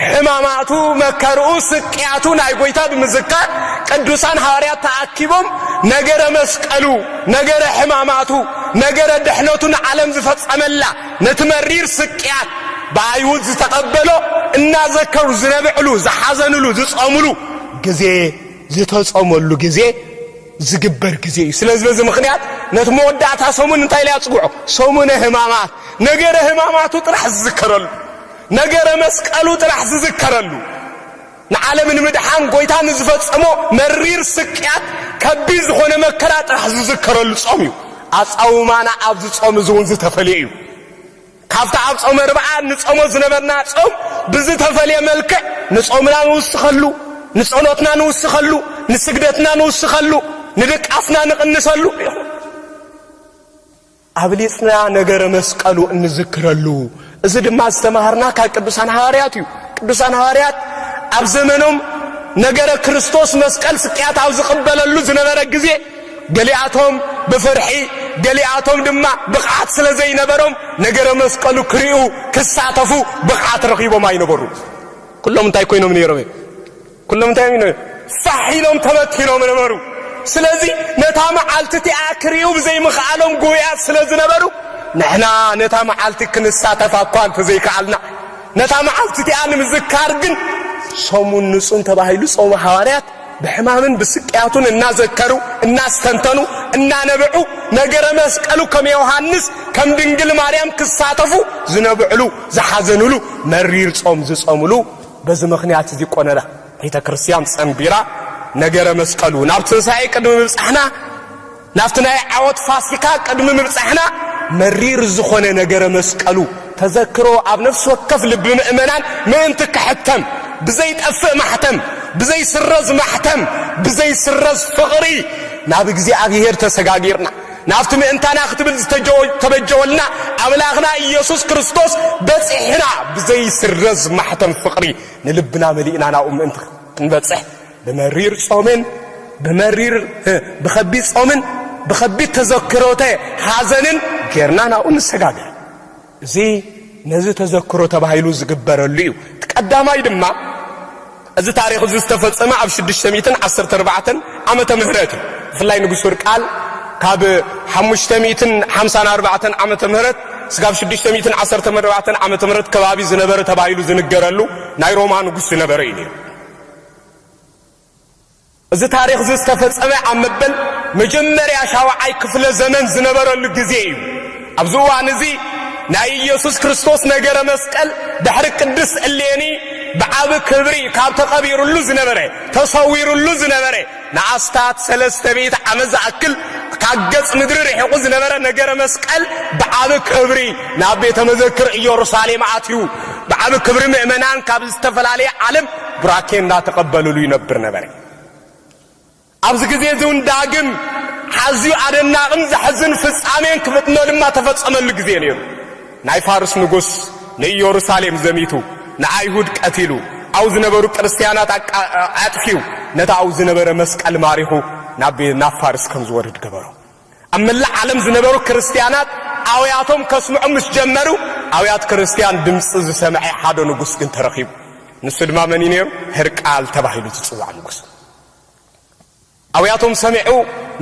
ሕማማቱ መከርኡ ስቅያቱ ናይ ጎይታ ብምዝካር ቅዱሳን ሃዋርያት ተኣኪቦም ነገረ መስቀሉ ነገረ ሕማማቱ ነገረ ድሕነቱ ንዓለም ዝፈጸመላ ነቲ መሪር ስቅያት ብኣይሁድ ዝተቐበሎ እናዘከሩ ዝነብዕሉ፣ ዝሓዘንሉ፣ ዝጸምሉ ግዜ፣ ዝተጾመሉ ግዜ ዝግበር ግዜ እዩ። ስለዚ በዚ ምኽንያት ነቲ መወዳእታ ሰሙን እንታይ ኢለ ኣጽውዖ? ሰሙነ ሕማማት። ነገረ ሕማማቱ ጥራሕ ዝዝከረሉ፣ ነገረ መስቀሉ ጥራሕ ዝዝከረሉ ንዓለም ንምድሓን ጎይታ ንዝፈጸሞ መሪር ስቅያት ከቢድ ዝኾነ መከራ ጥራሕ ዝዝከረሉ ጾም እዩ። ኣጻውማና ኣብዚ ጾም እዚ እውን ዝተፈልየ እዩ። ካብቲ ኣብ ጾመ ርብዓ ንጾሞ ዝነበርና ጾም ብዝተፈልየ መልክዕ ንጾምና ንውስኸሉ፣ ንጸሎትና ንውስኸሉ፣ ንስግደትና ንውስኸሉ፣ ንድቃስና ንቕንሰሉ ኢኹም። ኣብሊጽና ነገረ መስቀሉ እንዝክረሉ እዚ ድማ ዝተማሃርና ካብ ቅዱሳን ሃዋርያት እዩ። ቅዱሳን ሃዋርያት ኣብ ዘመኖም ነገረ ክርስቶስ መስቀል ስቅያት ኣብ ዝቕበለሉ ዝነበረ ግዜ ገሊኣቶም ብፍርሒ ገሊኣቶም ድማ ብቕዓት ስለ ዘይነበሮም ነገረ መስቀሉ ክርእዩ ክሳተፉ ብቕዓት ረኺቦም ኣይነበሩ። ኩሎም እንታይ ኮይኖም ነይሮም? ኩሎም እንታይ ኢሎም እዮም? ፋሕ ኢሎም ተበኪሎም ነበሩ። ስለዚ ነታ መዓልቲ እቲኣ ክርእዩ ብዘይምኽኣሎም ጉህያት ስለ ዝነበሩ፣ ንሕና ነታ መዓልቲ ክንሳተፋ እኳ እንተ ዘይከኣልና፣ ነታ መዓልቲ እቲኣ ንምዝካር ግን ሰሙን ንጹን ተባሂሉ ጾመ ሃዋርያት ብሕማምን ብስቅያቱን እናዘከሩ እናስተንተኑ እናነበዑ ነገረ መስቀሉ ከም ዮሃንስ ከም ድንግል ማርያም ክሳተፉ ዝነብዕሉ ዝሓዘኑሉ መሪር ጾም ዝጾምሉ በዚ ምኽንያት እዚ ቈነረ ቤተ ክርስቲያን ጸንቢራ ነገረ መስቀሉ ናብ ትንሣኤ ቅድሚ ምብጻሕና ናብቲ ናይ ዓወት ፋሲካ ቅድሚ ምብጻሕና መሪር ዝኾነ ነገረ መስቀሉ ተዘክሮ ኣብ ነፍሲ ወከፍ ልቢ ምእመናን ምእንቲ ክሕተም ብዘይጠፍእ ማሕተም ብዘይስረዝ ማሕተም ብዘይስረዝ ፍቕሪ ናብ እግዚኣብሔር ተሰጋጊርና ናብቲ ምእንታና ክትብል ዝተበጀወልና ኣምላኽና ኢየሱስ ክርስቶስ በጺሕና ብዘይስረዝ ማሕተም ፍቕሪ ንልብና መሊእና ናብኡ ምእንቲ ክንበጽሕ ብመሪር ጾምን ብመሪር ብኸቢድ ጾምን ብኸቢድ ተዘክሮተ ሓዘንን ጌርና ናብኡ ንሰጋገር። እዚ ነዚ ተዘክሮ ተባሂሉ ዝግበረሉ እዩ። እቲ ቀዳማይ ድማ እዚ ታሪኽ እዚ ዝተፈጸመ ኣብ ሽዱሽተ ሚእትን ዓሰርተ ኣርባዕተን ዓመተ ምህረት እዩ። ብፍላይ ንጉስ ወርቃል ካብ ሓሙሽተ ሚእትን ሓምሳን ኣርባዕተን ዓመተ ምህረት ስጋብ ሽዱሽተ ሚእትን ዓሰርተን ኣርባዕተን ዓመተ ምህረት ከባቢ ዝነበረ ተባሂሉ ዝንገረሉ ናይ ሮማ ንጉስ ዝነበረ እዩ ነይሩ። እዚ ታሪኽ'ዚ ዝተፈጸመ ኣብ መበል መጀመርያ ሻውዓይ ክፍለ ዘመን ዝነበረሉ ግዜ ኢዩ። ኣብዚ እዋን እዚ ናይ ኢየሱስ ክርስቶስ ነገረ መስቀል ድሕሪ ቅድስት እሌኒ ብዓቢ ክብሪ ካብ ተቐቢሩሉ ዝነበረ ተሰዊሩሉ ዝነበረ ንኣስታት ሰለስተ ሚእቲ ዓመት ዝኣክል ካብ ገጽ ምድሪ ርሒቑ ዝነበረ ነገረ መስቀል ብዓቢ ክብሪ ናብ ቤተ መዘክር ኢየሩሳሌም ኣትዩ ብዓቢ ክብሪ ምእመናን ካብ ዝተፈላለየ ዓለም ቡራኬ እንዳተቐበልሉ ይነብር ነበረ። ኣብዚ ግዜ እዚ እውን ዳግም ኣዝዩ ኣደናቕን ዘሕዝን ፍጻሜን ክፍጥኖ ድማ ተፈጸመሉ ግዜ ነይሩ። ናይ ፋርስ ንጉስ ንኢየሩሳሌም ዘሚቱ ንኣይሁድ ቀቲሉ ኣብኡ ዝነበሩ ክርስትያናት ኣጥፊኡ ነቲ ኣብኡ ዝነበረ መስቀል ማሪኹ ናብ ፋርስ ከም ዝወርድ ገበሮ። ኣብ መላእ ዓለም ዝነበሩ ክርስትያናት ኣውያቶም ከስምዑ ምስ ጀመሩ፣ ኣውያት ክርስትያን ድምጺ ዝሰምዔ ሓደ ንጉስ ግን ተረኺቡ። ንሱ ድማ መን እዩ ነይሩ? ህርቃል ተባሂሉ ዝጽዋዕ ንጉስ። ኣውያቶም ሰሚዑ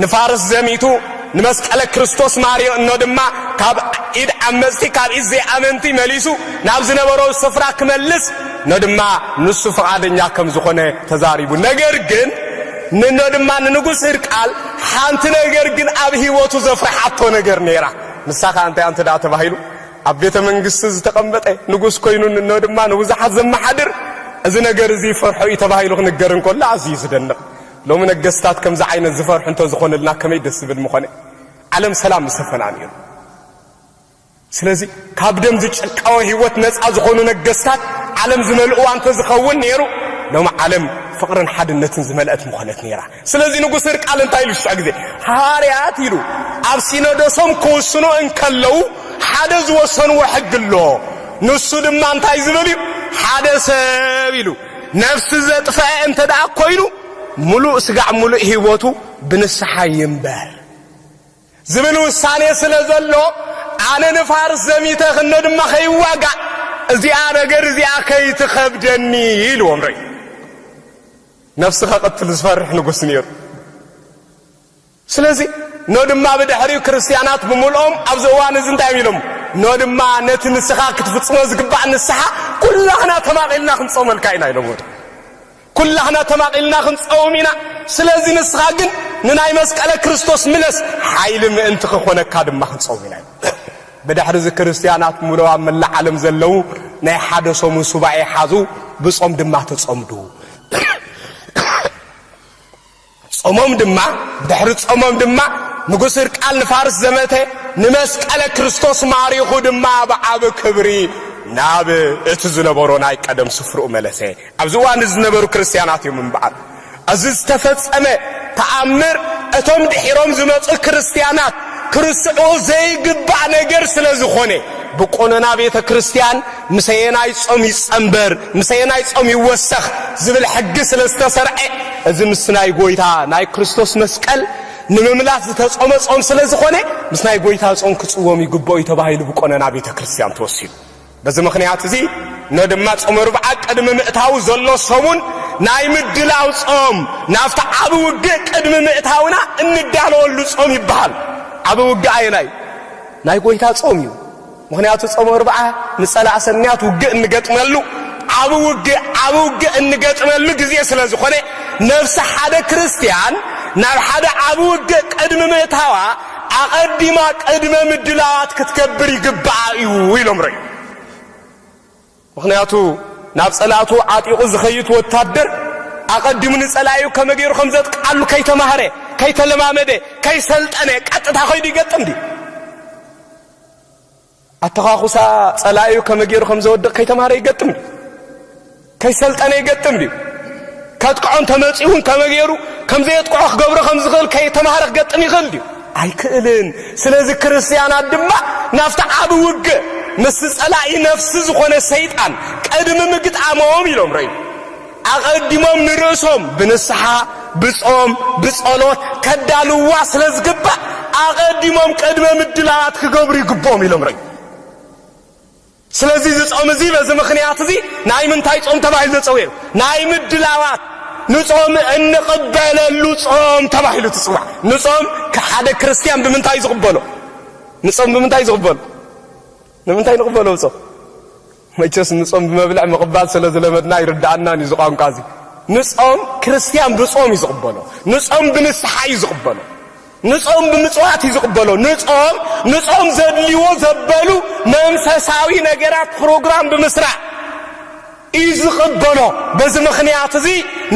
ንፋርስ ዘሚቱ ንመስቀለ ክርስቶስ ማርዮ እኖ ድማ ካብ ኢድ ዓመጽቲ ካብ ኢድ ዘይኣመንቲ መሊሱ ናብ ዝነበሮ ስፍራ ክመልስ እኖ ድማ ንሱ ፍቓደኛ ከም ዝኾነ ተዛሪቡ። ነገር ግን ንኖ ድማ ንንጉስ ህርቃል ሓንቲ ነገር ግን ኣብ ህይወቱ ዘፍርሓቶ ነገር ነይራ። ንሳ ኸኣ እንታይ እያ እንተ ደኣ ተባሂሉ፣ ኣብ ቤተ መንግስቲ ዝተቐመጠ ንጉስ ኰይኑ እንሆ ድማ ንብዙሓት ዘመሓድር እዚ ነገር እዚ ይፈርሖ እዩ ተባሂሉ ክንገር እንከሎ ኣዝዩ እዩ ዝደንቕ። ሎሚ ነገስታት ከምዚ ዓይነት ዝፈርሑ እንተ ዝዀኑልና ከመይ ደስ ዝብል ምዀነ። ዓለም ሰላም ምሰፈና ነይሩ። ስለዚ ካብ ደም ዝጭቃወ ህይወት ነጻ ዝኾኑ ነገስታት ዓለም ዝመልእዋ እንተዝኸውን ነይሩ ሎሚ ዓለም ፍቕርን ሓድነትን ዝመልአት ምኾነት ነይራ። ስለዚ ንጉስ ህርቃል እንታይ ኢሉ ሽዑ ግዜ ሃዋርያት ኢሉ ኣብ ሲኖዶሶም ክውስኑ እንከለዉ ሓደ ዝወሰንዎ ሕጊ ኣሎ ንሱ ድማ እንታይ ዝብል እዩ ሓደ ሰብ ኢሉ ነፍሲ ዘጥፈዐ እንተ ደኣ ኮይኑ ምሉእ ስጋዕ ምሉእ ህይወቱ ብንስሓ ይንበር። ዝብል ውሳኔ ስለ ዘሎ ኣነ ንፋርስ ዘሚተ ክነ ድማ ከይዋጋእ እዚኣ ነገር እዚኣ ከይትኸብደኒ ኢልዎም ርኢ ነፍሲ ከቕትል ዝፈርሕ ንጉስ ነይሩ ስለዚ ኖ ድማ ብድሕሪኡ ክርስትያናት ብምልኦም ኣብዚ እዋን እዚ እንታይ ኢሎም ኖ ድማ ነቲ ንስኻ ክትፍጽሞ ዝግባእ ንስሓ ኩላህና ተማቒልና ክንጾመልካ ኢና ኢሎም ወደ ኩላህና ተማቒልና ክንጸውም ኢና ስለዚ ንስኻ ግን ንናይ መስቀለ ክርስቶስ ምለስ ሓይሊ ምእንቲ ክኾነካ ድማ ክንጸውም ኢና ኢሎም። ብድሕሪ እዚ ክርስትያናት ሙሉእ ኣብ መላእ ዓለም ዘለዉ ናይ ሓደ ሰሙን ሱባኤ ሓዙ ብጾም ድማ ተጸምዱ። ጾሞም ድማ ብድሕሪ ጾሞም ድማ ንጉስ ህርቃል ንፋርስ ዘመተ ንመስቀለ ክርስቶስ ማሪኹ ድማ ብዓቢ ክብሪ ናብ እቲ ዝነበሮ ናይ ቀደም ስፍርኡ መለሰ። ኣብዚ እዋን እዚ ዝነበሩ ክርስትያናት እዮም እምበኣር እዚ ዝተፈጸመ ተኣምር እቶም ድሒሮም ዝመጹ ክርስትያናት ክርስዑኡ ዘይግባእ ነገር ስለ ዝኾነ ብቆኖና ቤተ ክርስትያን ምሰየናይ ጾም ይጸንበር፣ ምሰየናይ ጾም ይወሰኽ ዝብል ሕጊ ስለ ዝተሰርዐ፣ እዚ ምስ ናይ ጎይታ ናይ ክርስቶስ መስቀል ንምምላስ ዝተጾመ ጾም ስለ ዝኾነ ምስ ናይ ጎይታ ጾም ክጽወም ይግብኦ እዩ ተባሂሉ ብቆነና ቤተ ክርስቲያን ተወሲኑ። በዚ ምክንያት እዚ ነ ድማ ጾመ ርብዓ ቅድሚ ምእታው ዘሎ ሰሙን ናይ ምድላው ጾም ናብቲ ዓቢ ውግእ ቅድሚ ምእታውና እንዳለወሉ ጾም ይበሃል። ዓቢ ውግእ ኣየናይ ናይ ጎይታ ጾም እዩ። ምኽንያቱ ጾመ እርብዓ ንጸላእ ሰናያት ውግእ እንገጥመሉ ዓቢ ውግእ ዓቢ ውግእ እንገጥመሉ ግዜ ስለ ዝኾነ ነፍሲ ሓደ ክርስትያን ናብ ሓደ ዓቢ ውግእ ቅድሚ ምእታዋ ኣቐዲማ ቅድመ ምድላዋት ክትገብር ይግብኣ እዩ ኢሎም ረዩ ምኽንያቱ ናብ ጸላእቱ ዓጢቑ ዝኸይት ወታደር ኣቐዲሙ ንጸላዩ ከመ ገይሩ ከም ዘጥቃሉ ከይተማህረ ከይተለማመደ ከይሰልጠነ ቀጥታ ከይዱ ይገጥም ድዩ ኣተዃኹሳ ጸላኢኡ ከመይ ገይሩ ከም ዘወድቕ ከይተማህረ ይገጥም ድዩ? ከይሰልጠነ ይገጥም ድዩ? ከጥቅዖ እንተመጺኡ እውን ከመይ ገይሩ ከም ዘየጥቅዖ ክገብሮ ከም ዝኽእል ከይተማህረ ክገጥም ይኽእል ድዩ? ኣይክእልን። ስለዚ ክርስትያናት ድማ ናብቲ ዓብ ውግ ምስ ጸላኢ ነፍሲ ዝኾነ ሰይጣን ቅድሚ ምግጣሞም ኢሎም ረዩ። ኣቐዲሞም ንርእሶም ብንስሓ፣ ብጾም፣ ብጸሎት ከዳልውዋ ስለ ዝግባእ ኣቐዲሞም ቅድመ ምድላዋት ክገብሩ ይግብኦም ኢሎም ርእዩ። ስለዚ እዚ ጾም እዚ በዚ ምኽንያት እዚ ናይ ምንታይ ጾም ተባሂሉ ተጸዊዑ? ናይ ምድላዋት ንጾም እንቕበለሉ ጾም ተባሂሉ ትጽዋዕ። ንጾም ሓደ ክርስትያን ብምንታይ ዝቕበሎ? ንጾም ብምንታይ ዝቕበሎ? ንምንታይ ንቕበሎ ጾም? መቸስ ንጾም ብመብልዕ ምቕባል ስለ ዝለመድና ኣይርድኣናን እዩ እዚ ቋንቋ እዚ። ንጾም ክርስትያን ብጾም እዩ ዝቕበሎ። ንጾም ብንስሓ እዩ ዝቕበሎ። ንጾም ብምጽዋት እዩ ዝቕበሎ። ንጾም ንጾም ዘድልዎ ዘበሉ መንፈሳዊ ነገራት ፕሮግራም ብምስራሕ እዩ ዝቕበሎ። በዚ ምኽንያት እዚ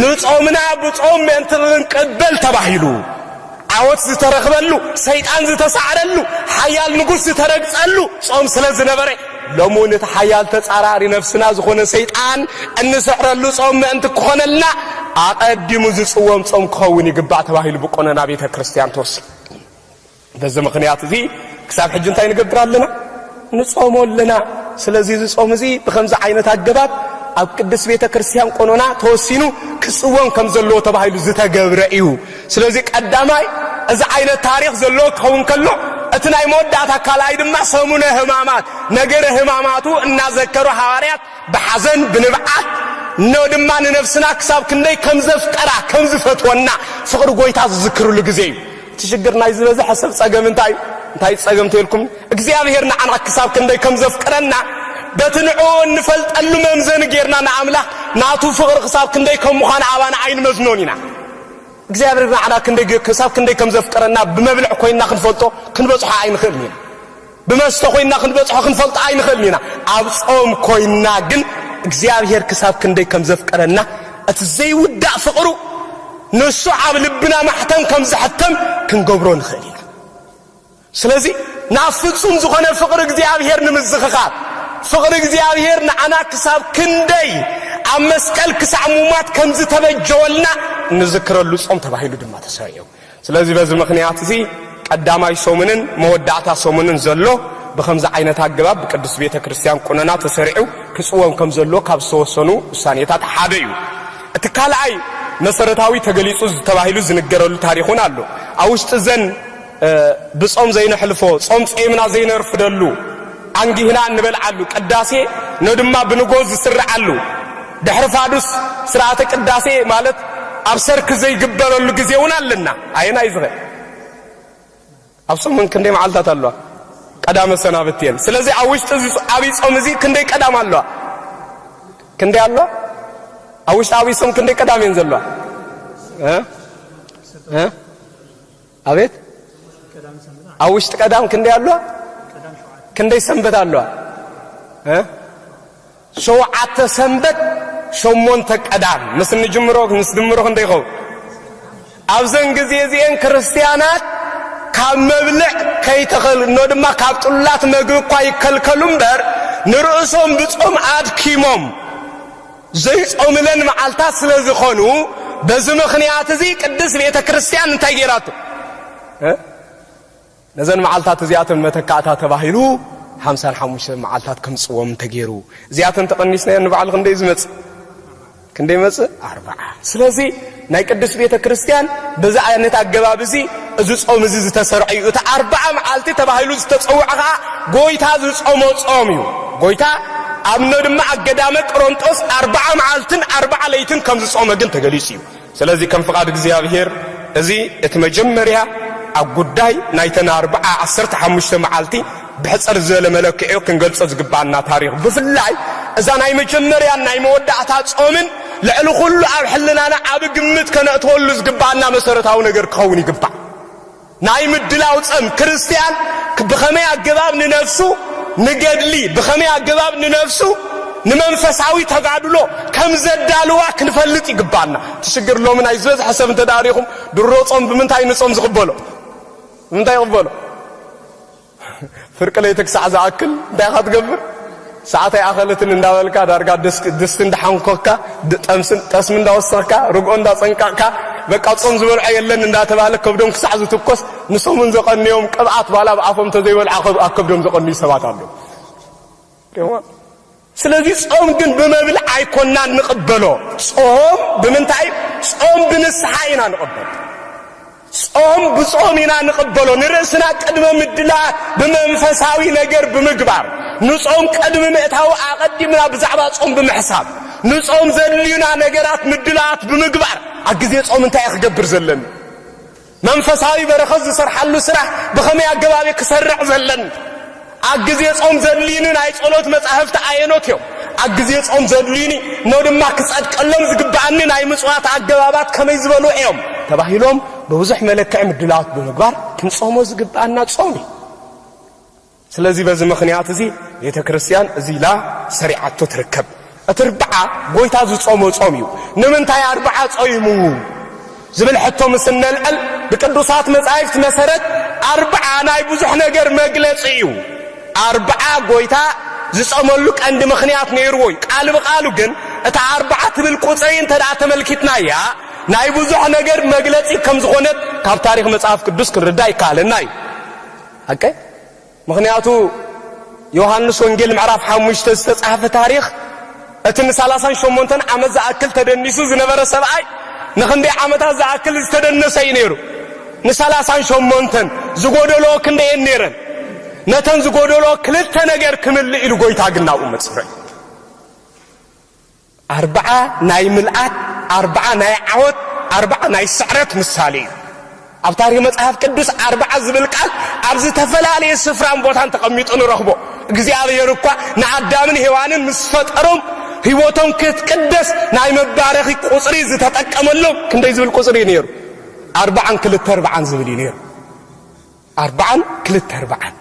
ንጾምና ብጾም ምእንቲ ክንቅበል ተባሂሉ ዓወት ዝተረኽበሉ፣ ሰይጣን ዝተሳዕረሉ፣ ሓያል ንጉስ ዝተረግጸሉ ጾም ስለ ዝነበረ፣ ሎሚ እውን እቲ ሓያል ተጻራሪ ነፍስና ዝኾነ ሰይጣን እንስዕረሉ ጾም ምእንቲ ክኾነልና ኣቐዲሙ ዝጽወም ጾም ክኸውን ይግባእ ተባሂሉ ብቆነና ቤተ ክርስቲያን ተወሲኑ። በዚ ምኽንያት እዚ ክሳብ ሕጂ እንታይ ንገብር ኣለና? ንጾሞ ኣለና። ስለዚ እዚ ጾም እዚ ብኸምዚ ዓይነት ኣገባብ ኣብ ቅድስት ቤተ ክርስቲያን ቆኖና ተወሲኑ ክጽወም ከም ዘለዎ ተባሂሉ ዝተገብረ እዩ። ስለዚ ቀዳማይ እዚ ዓይነት ታሪኽ ዘለዎ ክኸውን ከሎ እቲ ናይ መወዳእታ ካልኣይ ድማ ሰሙነ ሕማማት ነገረ ሕማማቱ እናዘከሩ ሃዋርያት ብሓዘን ብንብዓት ን ድማ ንነፍስና ክሳብ ክንደይ ከም ዘፍቀራ ከም ዝፈትወና ፍቕሪ ጎይታ ዝዝክርሉ ግዜ እዩ። እቲ ሽግር ናይ ዝበዘሐ ሰብ ጸገም እንታይ እዩ? እንታይ እዩ ጸገም ተልኩም? እግዚኣብሔር ንዓና ክሳብ ክንደይ ከም ዘፍቅረና በቲ ንዕኡ እንፈልጠሉ መምዘኒ ጌርና ንኣምላኽ ናቱ ፍቕሪ ክሳብ ክንደይ ከም ምዃኑ ኣባና ኣይንመዝኖን ኢና። እግዚኣብሔር ንዓና ክንደይ ክሳብ ክንደይ ከም ዘፍቅረና ብመብልዕ ኮይንና ክንፈልጦ ክንበጽሖ ኣይንኽእልን ኢና። ብመስተ ኮይንና ክንበጽሖ ክንፈልጦ ኣይንኽእልን ኢና፣ ኣብ ጾም ኮይንና ግን እግዚኣብሄር ክሳብ ክንደይ ከም ዘፍቀረና እቲ ዘይውዳእ ፍቕሩ ንሱ ኣብ ልብና ማሕተም ከም ዝሕተም ክንገብሮ ንኽእል ኢና። ስለዚ ናብ ፍጹም ዝኾነ ፍቕሪ እግዚኣብሄር ንምዝኽኻር ፍቕሪ እግዚኣብሄር ንዓና ክሳብ ክንደይ ኣብ መስቀል ክሳዕ ሙማት ከም ዝተበጀወልና እንዝክረሉ ጾም ተባሂሉ ድማ ተሰሪዑ። ስለዚ በዚ ምኽንያት'ዚ ቀዳማይ ሰሙንን መወዳእታ ሰሙንን ዘሎ ብኸምዚ ዓይነት ኣገባብ ብቅድስት ቤተ ክርስቲያን ቁነና ተሰሪዑ ክጽወም ከም ዘለዎ ካብ ዝተወሰኑ ውሳኔታት ሓደ እዩ። እቲ ካልኣይ መሰረታዊ ተገሊጹ ተባሂሉ ዝንገረሉ ታሪኽ እውን ኣሎ። ኣብ ውሽጢ እዘን ብጾም ዘይነሕልፎ፣ ጾም ጸይምና ዘይነርፍደሉ፣ ኣንጊህና እንበልዓሉ ቅዳሴ ን ድማ ብንጎ ዝስርዓሉ ድሕሪ ፋዱስ ስርዓተ ቅዳሴ ማለት ኣብ ሰርክ ዘይግበረሉ ግዜ እውን ኣለና ኣየናይ ዝኸ ኣብ ሰሙን ክንደይ መዓልታት ኣለዋ ቀዳመ ሰናብት እየን ስለዚ ኣብ ውሽጢ እዚ ዓብይ ጾም እዚ ክንደይ ቀዳም ኣለዋ ክንደይ ኣሎ ኣብ ውሽጢ ዓብይ ጾም ክንደይ ቀዳም እየን ዘለዋ ኣቤት ኣብ ውሽጢ ቀዳም ክንደይ ኣለዋ ክንደይ ሰንበት ኣለዋ ሸውዓተ ሰንበት ሸሞንተ ቀዳም ምስ ንጅምሮ ምስ ድምሮ ክንደይ ይኸውን ኣብዘን ግዜ እዚአን ክርስትያናት ካብ መብልዕ ከይተኸልኖ ድማ ካብ ጥሉላት መግቢ እኳ ይከልከሉ እምበር ንርእሶም ብጾም ኣድኪሞም ዘይጾምለን መዓልታት ስለ ዝኸኑ በዚ ምኽንያት እዚ ቅድስት ቤተ ክርስቲያን እንታይ ጌራቶ ነዘን መዓልታት እዚኣተን መተካእታ ተባሂሉ ሓምሳን ሓሙሽተን መዓልታት ከምጽዎም ተገይሩ እዚኣተን ተቐኒስናዮ ንባዕሉ ክንደይ ዝመጽእ ክንደይ መጽእ ኣርባዓ ስለዚ ናይ ቅድስት ቤተ ክርስቲያን በዚ ዓይነት ኣገባብ እዚ እዚ ጾም እዚ ዝተሰርዐ እዩ። እቲ ኣርብዓ መዓልቲ ተባሂሉ ዝተጸውዐ ኸኣ ጎይታ ዝጾሞ ጾም እዩ። ጎይታ ኣብነ ድማ ኣብ ገዳመ ቅሮንጦስ ኣርብዓ መዓልትን ኣርብዓ ለይትን ከም ዝጾመ ግን ተገሊጹ እዩ። ስለዚ ከም ፍቓድ እግዚኣብሔር እዚ እቲ መጀመርያ ኣብ ጉዳይ ናይተን ኣርብዓ ዓሰርተ ሓሙሽተ መዓልቲ ብሕጽር ዝበለ መለክዒ ክንገልጾ ዝግብኣና ታሪኽ ብፍላይ እዛ ናይ መጀመርያን ናይ መወዳእታ ጾምን ልዕሊ ኩሉ ኣብ ሕልናና ዓቢ ግምት ከነእትወሉ ዝግብኣና መሰረታዊ ነገር ክኸውን ይግባእ። ናይ ምድላው ጸም ክርስትያን ብኸመይ ኣገባብ ንነፍሱ ንገድሊ ብኸመይ ኣገባብ ንነፍሱ ንመንፈሳዊ ተጋድሎ ከም ዘዳልዋ ክንፈልጥ ይግባና ትሽግር ሎሚ ናይ ዝበዝሐ ሰብ እንተ ሪኹም ድሮ ጾም ብምንታይ ንጾም ዝቕበሎ ብምንታይ ይቕበሎ ፍርቂ ለይቲ ክሳዕ ዝኣክል እንታይ ኢኻ ትገብር? ሰዓት ኣይኣኸለትን እንዳበልካ ዳርጋ ድስቲ እንዳሓንኮካ ጠስሚ እንዳወሰኽካ ርግኦ እንዳጸንቀቕካ በቃ ጾም ዝበልዖ የለን እንዳተባህለ ከብዶም ክሳዕ ዝትኮስ ንሰሙን ዘቐንዮም ቅብኣት ባላ ኣብ ኣፎም ተዘይበልዓ ኣብ ከብዶም ዘቐንዩ ሰባት ኣለዉ። ስለዚ ጾም ግን ብመብል ኣይኮናን ንቕበሎ። ጾም ብምንታይ? ጾም ብንስሓ ኢና ንቕበሎ። ጾም ብጾም ኢና ንቕበሎ። ንርእስና ቅድመ ምድላ ብመንፈሳዊ ነገር ብምግባር ንጾም ቅድሚ ምእታዊ ኣቐዲምና ብዛዕባ ጾም ብምሕሳብ ንጾም ዘድልዩና ነገራት ምድላዋት ብምግባር ኣብ ግዜ ጾም እንታይ እየ ክገብር ዘለኒ መንፈሳዊ በረኸት ዝሰርሓሉ ስራሕ ብኸመይ ኣገባብ እዩ ክሰርዕ ዘለኒ? ኣብ ግዜ ጾም ዘድልዩኒ ናይ ጸሎት መጻሕፍቲ ኣየኖት እዮም? ኣብ ግዜ ጾም ዘድልዩኒ እሞ ድማ ክጸድቀሎም ዝግብኣኒ ናይ ምጽዋት ኣገባባት ከመይ ዝበሉ እዮም? ተባሂሎም ብብዙሕ መለክዒ ምድላዋት ብምግባር ክንጾሞ ዝግብኣና ጾም እዩ። ስለዚ በዚ ምኽንያት እዚ ቤተ ክርስቲያን እዚ ኢላ ሰሪዓቶ ትርከብ። እቲ ርብዓ ጎይታ ዝጾሞ ጾም እዩ። ንምንታይ ኣርብዓ ጾይሙ ዝብል ሕቶ ምስ እነልዕል ብቅዱሳት መጻሕፍት መሰረት ኣርብዓ ናይ ብዙሕ ነገር መግለጺ እዩ። ኣርብዓ ጎይታ ዝጸመሉ ቀንዲ ምኽንያት ነይርዎ እዩ። ቃል ብቃሉ ግን እታ ኣርብዓ ትብል ቁጽሪ እንተ ደኣ ተመልኪትናያ ናይ ብዙሕ ነገር መግለጺ ከም ዝኾነት ካብ ታሪኽ መጽሐፍ ቅዱስ ክንርዳእ ይከኣለና እዩ። ሓቀይ ምኽንያቱ ዮሃንስ ወንጌል ምዕራፍ ሓሙሽተ ዝተጻሕፈ ታሪኽ እቲ ንሳላሳን ሸሞንተን ዓመት ዝኣክል ተደኒሱ ዝነበረ ሰብኣይ ንኽንደይ ዓመታት ዝኣክል ዝተደነሰ እዩ ነይሩ ንሳላሳን ሸሞንተን ዝጎደሎ ክንደየን ነይረን ነተን ዝጎደሎ ክልተ ነገር ክምልእ ኢሉ ጎይታ ግን ናብኡ መጽበ ኣርብዓ ናይ ምልኣት፣ ኣርብዓ ናይ ዓወት፣ ኣርብዓ ናይ ስዕረት ምሳሌ እዩ። ኣብ ታሪኽ መጽሓፍ ቅዱስ ኣርብዓ ዝብል ቃል ኣብ ዝተፈላለየ ስፍራን ቦታን ተቐሚጡ ንረኽቦ። እግዚኣብሔር እኳ ንኣዳምን ሔዋንን ምስ ፈጠሮም ህይወቶም ክትቅደስ ናይ መባረኺ ቁጽሪ ዝተጠቀመሎም ክንደይ ዝብል ቁጽሪ እዩ ነይሩ? ኣርባዓን ክልተ ኣርባዓን ዝብል እዩ ነይሩ። ኣርባዓን ክልተ ኣርባዓን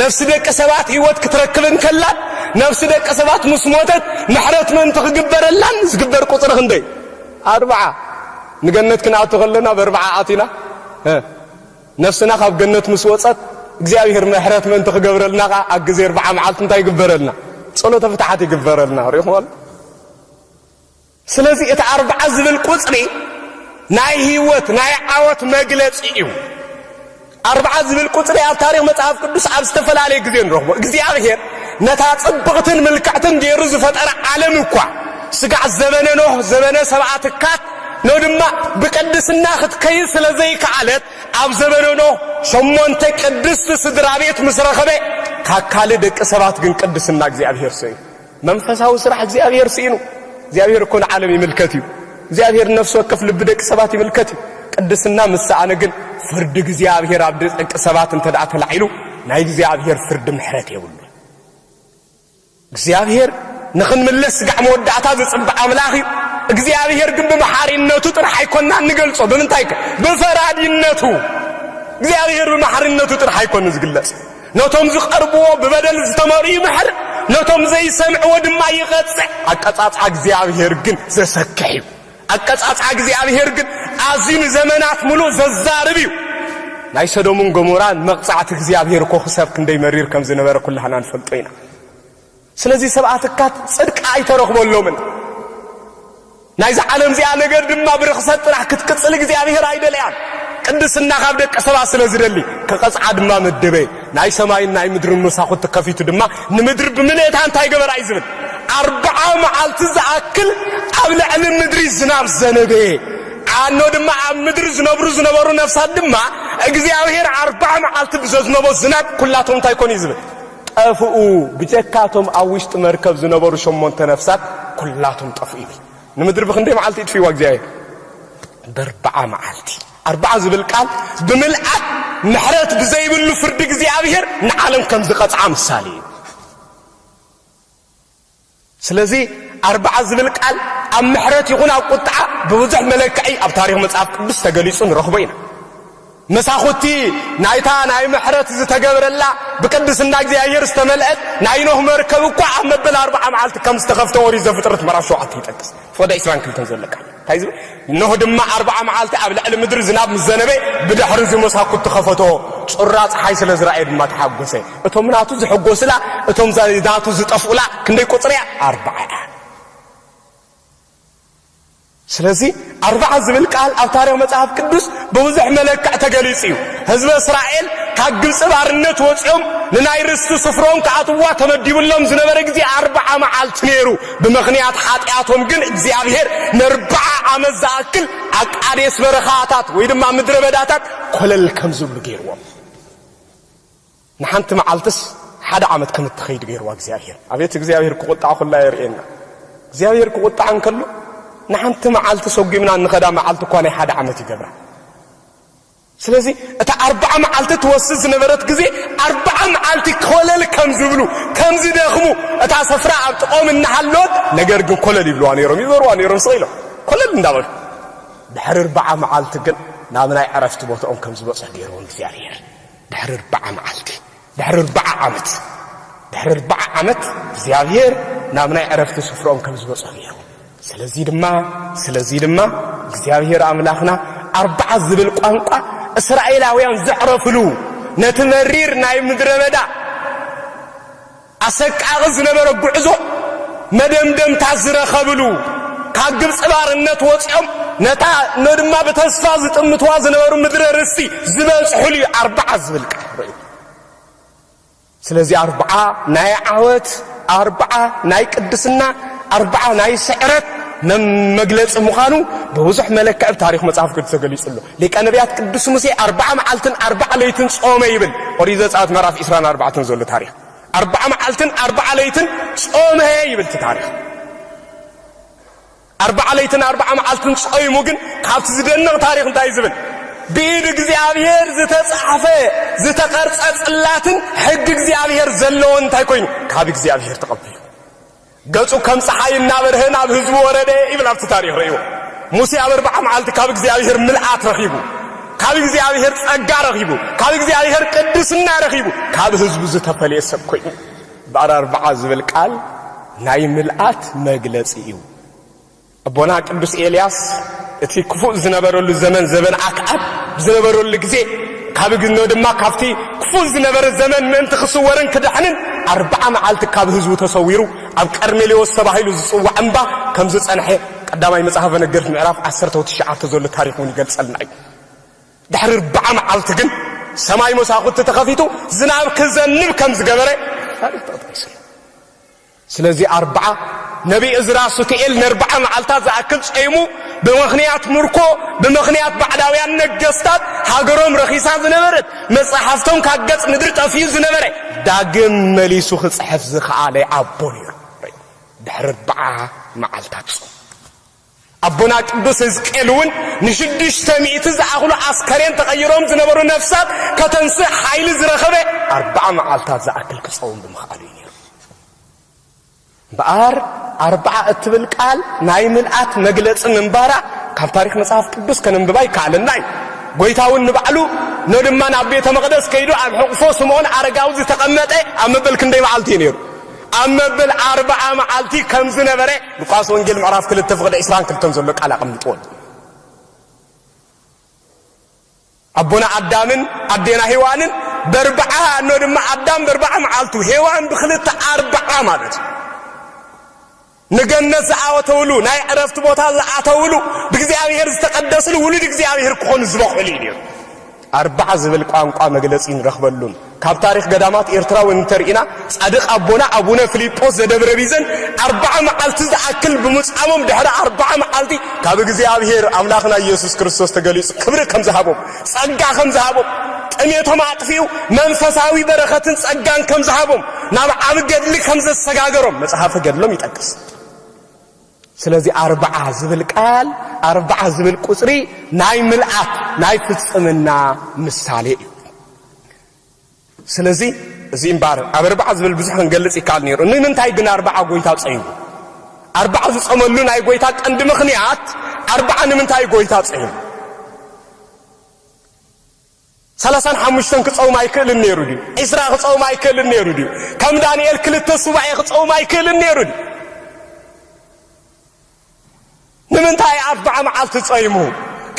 ነፍሲ ደቂ ሰባት ህይወት ክትረክብ እንከላን ነፍሲ ደቂ ሰባት ምስ ሞተት ምሕረት ምእንቲ ክግበረላን ዝግበር ቁጽሪ ክንደይ ኣርብዓ ንገነት ክንኣቱ ከለና በርብዓ ኣቲና ነፍስና ካብ ገነት ምስ ወጸት እግዚኣብሔር ምሕረት ምእንቲ ክገብረልና ከኣ ኣብ ግዜ ኣርብዓ መዓልቲ እንታይ ይግበረልና ጸሎተ ፍትሓት ይግበረልና ሪእኹም ኣሎ ስለዚ እቲ ኣርብዓ ዝብል ቁጽሪ ናይ ህይወት ናይ ዓወት መግለጺ እዩ። ኣርብዓ ዝብል ቁጽሪ ኣብ ታሪኽ መጽሓፍ ቅዱስ ኣብ ዝተፈላለየ ግዜ ንረኽቦ። እግዚኣብሔር ነታ ጽብቕትን ምልክዕትን ገይሩ ዝፈጠረ ዓለም እኳ ስጋዕ ዘበነ ኖህ ዘበነ ሰብኣ ትካት ኖ ድማ ብቅድስና ክትከይድ ስለ ዘይከኣለት ኣብ ዘበነ ኖህ ሸሞንተ ቅድስቲ ስድራ ቤት ምስ ረኸበ ካካሊ ደቂ ሰባት ግን ቅድስና እግዚኣብሔር ሰዩ መንፈሳዊ ስራሕ እግዚኣብሔር ስኢኑ። እግዚኣብሔር እኮ ንዓለም ይምልከት እዩ። እግዚኣብሔር ንነፍሲ ወከፍ ልቢ ደቂ ሰባት ይምልከት እዩ። ቅድስና ምስ ሰኣነ ግን ፍርዲ እግዚኣብሔር ኣብ ደቂ ሰባት እንተ ደኣ ተላዒሉ ናይ እግዚኣብሔር ፍርዲ ምሕረት የብሉ። እግዚኣብሔር ንኽንምለስ ስጋዕ መወዳእታ ዝጽብዕ ኣምላኽ እዩ። እግዚኣብሔር ግን ብመሓሪነቱ ጥራሕ ኣይኮና እንገልጾ ብምንታይ ከ ብፈራዲነቱ እግዚኣብሔር ብመሓሪነቱ ጥራሕ ኣይኮን ዝግለጽ ነቶም ዝቐርብዎ ብበደል ዝተመርኡ ይምሕር፣ ነቶም ዘይሰምዕዎ ድማ ይቐጽዕ። ኣቀጻጽዓ እግዚኣብሔር ግን ዘሰክሕ እዩ። ኣቀጻጽዓ እግዚኣብሔር ግን ኣዝዩ ንዘመናት ምሉእ ዘዛርብ እዩ። ናይ ሰዶምን ገሞራን መቕጻዕቲ እግዚኣብሔር እኮ ክሳብ ክንደይ መሪር ከም ዝነበረ ኩላህና ንፈልጦ ኢና። ስለዚ ሰብኣ ትካት ጽድቂ ኣይተረኽበሎምን። ናይዛ ዓለም እዚኣ ነገር ድማ ብርኽሰት ጥራሕ ክትቅጽል እግዚኣብሔር ኣይደለያን። ቅድስና ካብ ደቂ ሰባት ስለ ዝደሊ ክቐጽዓ ድማ መደበ። ናይ ሰማይን ናይ ምድርን መሳኹቲ ከፊቱ ድማ ንምድሪ ብምልእታ እንታይ ገበራ እዩ ዝብል ኣርብዓ መዓልቲ ዝኣክል ኣብ ልዕሊ ምድሪ ዝናብ ዘነበ ዓኖ ድማ ኣብ ምድሪ ዝነብሩ ዝነበሩ ነፍሳት ድማ እግዚኣብሔር ኣርብዓ መዓልቲ ብዘዝነቦ ዝናብ ኩላቶም እንታይ ኮኑ እዩ ዝብል ጠፍኡ፣ ብጀካ እቶም ኣብ ውሽጢ መርከብ ዝነበሩ ሸሞንተ ነፍሳት ኩላቶም ጠፍኡ ይብል። ንምድሪ ብኽንደይ መዓልቲ ይጥፍእዋ እግዚኣብሔር? በርብዓ መዓልቲ። ኣርብዓ ዝብል ቃል ብምልኣት ምሕረት ብዘይብሉ ፍርዲ እግዚኣብሔር ንዓለም ከም ዝቐጽዓ ምሳሌ እዩ። ስለዚ ኣርብዓ ዝብል ቃል ኣብ ምሕረት ይኹን ኣብ ቁጥዓ ብብዙሕ መለክዒ ኣብ ታሪኽ መጽሓፍ ቅዱስ ተገሊጹ ንረኽቦ ኢና። መሳኹቲ ናይታ ናይ ምሕረት ዝተገብረላ ብቅድስና እግዚኣብሔር ዝተመልአት ናይ ኖህ መርከብ እኳ ኣብ መበል ኣርብዓ መዓልቲ ከም ዝተኸፍተ ኦሪት ዘፍጥረት ምዕራፍ ሸውዓተ ይጠቅስ። ፎደ ዕስራን ክልተን ዘሎ ቃል እንታይ ዝብል እነሆ ድማ ኣርብዓ መዓልቲ ኣብ ልዕሊ ምድሪ ዝናብ ምስ ዘነበ ብድሕርዚ መሳኩት ተኸፈቶ ጩራ ፀሓይ ስለ ዝረኣየ ድማ ተሓጎሰ እቶም ናቱ ዝሕጎስላ እቶም ናቱ ዝጠፍኡላ ክንደይ ቁፅሪ እያ ኣርብዓ እያ ስለዚ ኣርብዓ ዝብል ቃል ኣብ ታሪክ መፅሓፍ ቅዱስ ብብዙሕ መለክዕ ተገሊፁ እዩ ህዝበ እስራኤል ካብ ግብፂ ባርነት ወፂኦም ንናይ ርስቲ ስፍሮም ክኣትዋ ተመዲብሎም ዝነበረ ግዜ ኣርብዓ መዓልቲ ነይሩ ብምኽንያት ሓጢኣቶም ግን እግዚኣብሄር ነርብዓ ዓመት ዝኣክል ኣብ ቃዴስ በረኻታት ወይ ድማ ምድረ በዳታት ኮለል ከም ዝብሉ ገይርዎም። ንሓንቲ መዓልትስ ሓደ ዓመት ከም እትኸይድ ገይርዋ እግዚኣብሄር። ኣቤት እግዚኣብሄር ክቑጣዕ ኩላ የርእየና። እግዚኣብሄር ክቑጣዕ እንከሎ ንሓንቲ መዓልቲ ሰጒምና እንኸዳ መዓልቲ እኳ ናይ ሓደ ዓመት ይገብራ። ስለዚ እታ ኣርብዓ መዓልቲ ትወስድ ዝነበረት ግዜ ኣርብዓ መዓልቲ ኮለል ከም ዝብሉ ከም ዝደኽሙ እታ ሰፍራ ኣብ ጥቕኦም እናሃለወት ነገር ግን ኮለል ይብልዋ ነይሮም ይዞርዋ ነይሮም ስቕ ኢሎም ኮለል እንዳበሉ ድሕሪ ኣርብዓ መዓልቲ ግን ናብ ናይ ዕረፍቲ ቦትኦም ከም ዝበጽሑ ገይርዎም እግዚኣብሄር ድሕሪ ኣርብዓ መዓልቲ ድሕሪ ኣርብዓ ዓመት ድሕሪ ኣርብዓ ዓመት እግዚኣብሔር ናብ ናይ ዕረፍቲ ስፍራኦም ከም ዝበጽሑ ገይሩ ስለዚ ድማ ስለዚ ድማ እግዚኣብሔር ኣምላኽና ኣርብዓ ዝብል ቋንቋ እስራኤላውያን ዘዕረፍሉ ነቲ መሪር ናይ ምድረ በዳ ኣሰቃቒ ዝነበረ ጉዕዞ መደምደምታ ዝረኸብሉ ካብ ግብፂ ባርነት ወፂኦም ነታ ድማ ብተስፋ ዝጥምትዋ ዝነበሩ ምድረ ርስቲ ዝበፅሑሉ እዩ ኣርብዓ ዝብል ቃል ርእዩ ስለዚ ኣርብዓ ናይ ዓወት፣ ኣርብዓ ናይ ቅድስና፣ ኣርብዓ ናይ ስዕረት መግለፂ ምዃኑ ብብዙሕ መለክዕ ብ ታሪኽ መጽሓፍ ቅዱስ ተገሊጹ ኣሎ። ሊቀ ነቢያት ቅዱስ ሙሴ ኣርብዓ መዓልትን ኣርብዓ ለይትን ጾመ ይብል ኦሪት ዘጸኣት ምዕራፍ 24 ዘሎ ታሪኽ። ኣርብዓ መዓልትን ኣርብዓ ለይትን ጾመ ይብል እቲ ታሪኽ። ኣርብዓ ለይትን ኣርብዓ መዓልትን ጾይሙ ግን ካብቲ ዝደንቕ ታሪኽ እንታይ እዩ ዝብል? ብኢድ እግዚኣብሔር ዝተጻሕፈ ዝተቐርጸ ጽላትን ሕጊ እግዚኣብሔር ዘለዎን እንታይ ኮይኑ? ካብ እግዚኣብሔር ተቐቢሉ ገጹ ከም ፀሓይ እናበርሀ ናብ ህዝቡ ወረደ ይብል ኣብቲ ታሪኽ ርእይዎ። ሙሴ ኣብ ኣርብዓ መዓልቲ ካብ እግዚኣብሔር ምልኣት ረኺቡ፣ ካብ እግዚኣብሔር ጸጋ ረኺቡ፣ ካብ እግዚኣብሔር ቅድስና ረኺቡ ካብ ህዝቡ ዝተፈልየ ሰብ ኮይኑ ብዕር ኣርብዓ ዝብል ቃል ናይ ምልኣት መግለጺ እዩ። ኣቦና ቅዱስ ኤልያስ እቲ ክፉእ ዝነበረሉ ዘመን ዘበን ኣክዓብ ብዝነበረሉ ግዜ ካብ ግኖ ድማ ካብቲ ክፉእ ዝነበረ ዘመን ምእንቲ ክስወርን ክድሕንን ኣርብዓ መዓልቲ ካብ ህዝቡ ተሰዊሩ ኣብ ቀርሜሌዎስ ተባሂሉ ዝጽዋዕ እምባ ከም ዝጸንሐ ቀዳማይ መጽሓፈ ነገርት ምዕራፍ ዓሰርተ ትሽዓተ ዘሎ ታሪኽ እውን ይገልጸልና እዩ። ድሕሪ ኣርብዓ መዓልቲ ግን ሰማይ መሳዅቲ ተኸፊቱ ዝናብ ክዘንብ ከም ዝገበረ ታሪኽ ተጠቒሱ ኣሎ። ስለዚ ኣርብዓ ነብዪ እዝራ ሱቱኤል ንኣርብዓ መዓልታት ዝኣክል ጸይሙ ብምኽንያት ምርኮ ብምኽንያት ባዕዳውያን ነገስታት ሃገሮም ረኺሳ ዝነበረት መጻሕፍቶም ካብ ገጽ ምድሪ ጠፊኡ ዝነበረ ዳግም መሊሱ ክጽሕፍ ዝኸኣለ ኣቦ ነይሩ። ድሕሪ ኣርብዓ መዓልታት ጾም ኣቦና ቅዱስ ህዝቅኤል እውን ንሽዱሽተ ሚእቲ ዝኣኽሉ ኣስከሬን ተቐይሮም ዝነበሩ ነፍሳት ከተንስእ ሓይሊ ዝረኸበ ኣርብዓ መዓልታት ዝኣክል ክጸውም ብምኽኣሉ እዩ ነይሩ። እምበኣር ኣርብዓ እትብል ቃል ናይ ምልኣት መግለጺ ምንባራ ካብ ታሪኽ መጽሓፍ ቅዱስ ከነንብባ ይከኣለና እዩ። ጎይታ እውን ንባዕሉ ኖ ድማ ናብ ቤተ መቕደስ ከይዱ ኣብ ሕቑፎ ስምዖን ኣረጋዊ ዝተቐመጠ ኣብ መበል ክንደይ መዓልቲ እዩ ነይሩ? ኣብ መብል ኣርብዓ መዓልቲ ከም ዝነበረ ሉቃስ ወንጌል ምዕራፍ ክልተ ፍቕዲ ዕስራን ክልተን ዘሎ ቃል ኣቐሚጥዎ ኣሎ። ኣቦና ኣዳምን ኣዴና ሄዋንን በርብዓ እኖ ድማ ኣዳም በርብዓ መዓልቱ ሄዋን ብክልተ ኣርብዓ ማለት እዩ። ንገነት ዝዓወተውሉ፣ ናይ ዕረፍቲ ቦታ ዝኣተውሉ፣ ብእግዚኣብሔር ዝተቐደስሉ ውሉድ እግዚኣብሔር ክኾኑ ዝበቕዕሉ እዩ ነይሩ። ኣርብዓ ዝብል ቋንቋ መግለጺ ንረኽበሉን ካብ ታሪኽ ገዳማት ኤርትራ እውን እንተርኢና ጻድቅ ኣቦና ኣቡነ ፍሊጶስ ዘደብረ ቢዘን ኣርባዓ መዓልቲ ዝኣክል ብምጻሞም ድሕሪ ኣርባዓ መዓልቲ ካብ እግዚኣብሔር ኣምላኽና ኢየሱስ ክርስቶስ ተገሊጹ ክብሪ ከም ዝሃቦም ጸጋ ከም ዝሃቦም፣ ጥሜቶም ኣጥፊኡ መንፈሳዊ በረኸትን ጸጋን ከም ዝሃቦም፣ ናብ ዓቢ ገድሊ ከም ዘሰጋገሮም መጽሓፈ ገድሎም ይጠቅስ። ስለዚ ኣርብዓ ዝብል ቃል ኣርብዓ ዝብል ቁጽሪ ናይ ምልኣት ናይ ፍጽምና ምሳሌ እዩ። ስለዚ እዚ እምበኣር ኣብ ኣርብዓ ዝብል ብዙሕ ክንገልጽ ይከኣል ነይሩ። ንምንታይ ግን ኣርብዓ ጎይታ ጸይሙ? ኣርብዓ ዝጸመሉ ናይ ጎይታ ቀንዲ ምኽንያት ኣርብዓ ንምንታይ ጎይታ ጸይሙ? ሰላሳን ሓሙሽተን ክጸውም ኣይክእልን ነይሩ ድዩ? ዒስራ ክጸውም ኣይክእልን ነይሩ ድዩ? ከም ዳንኤል ክልተ ሱባኤ ክጸውም ኣይክእልን ነይሩ ድዩ? ንምንታይ ኣርብዓ መዓልቲ ጸይሙ?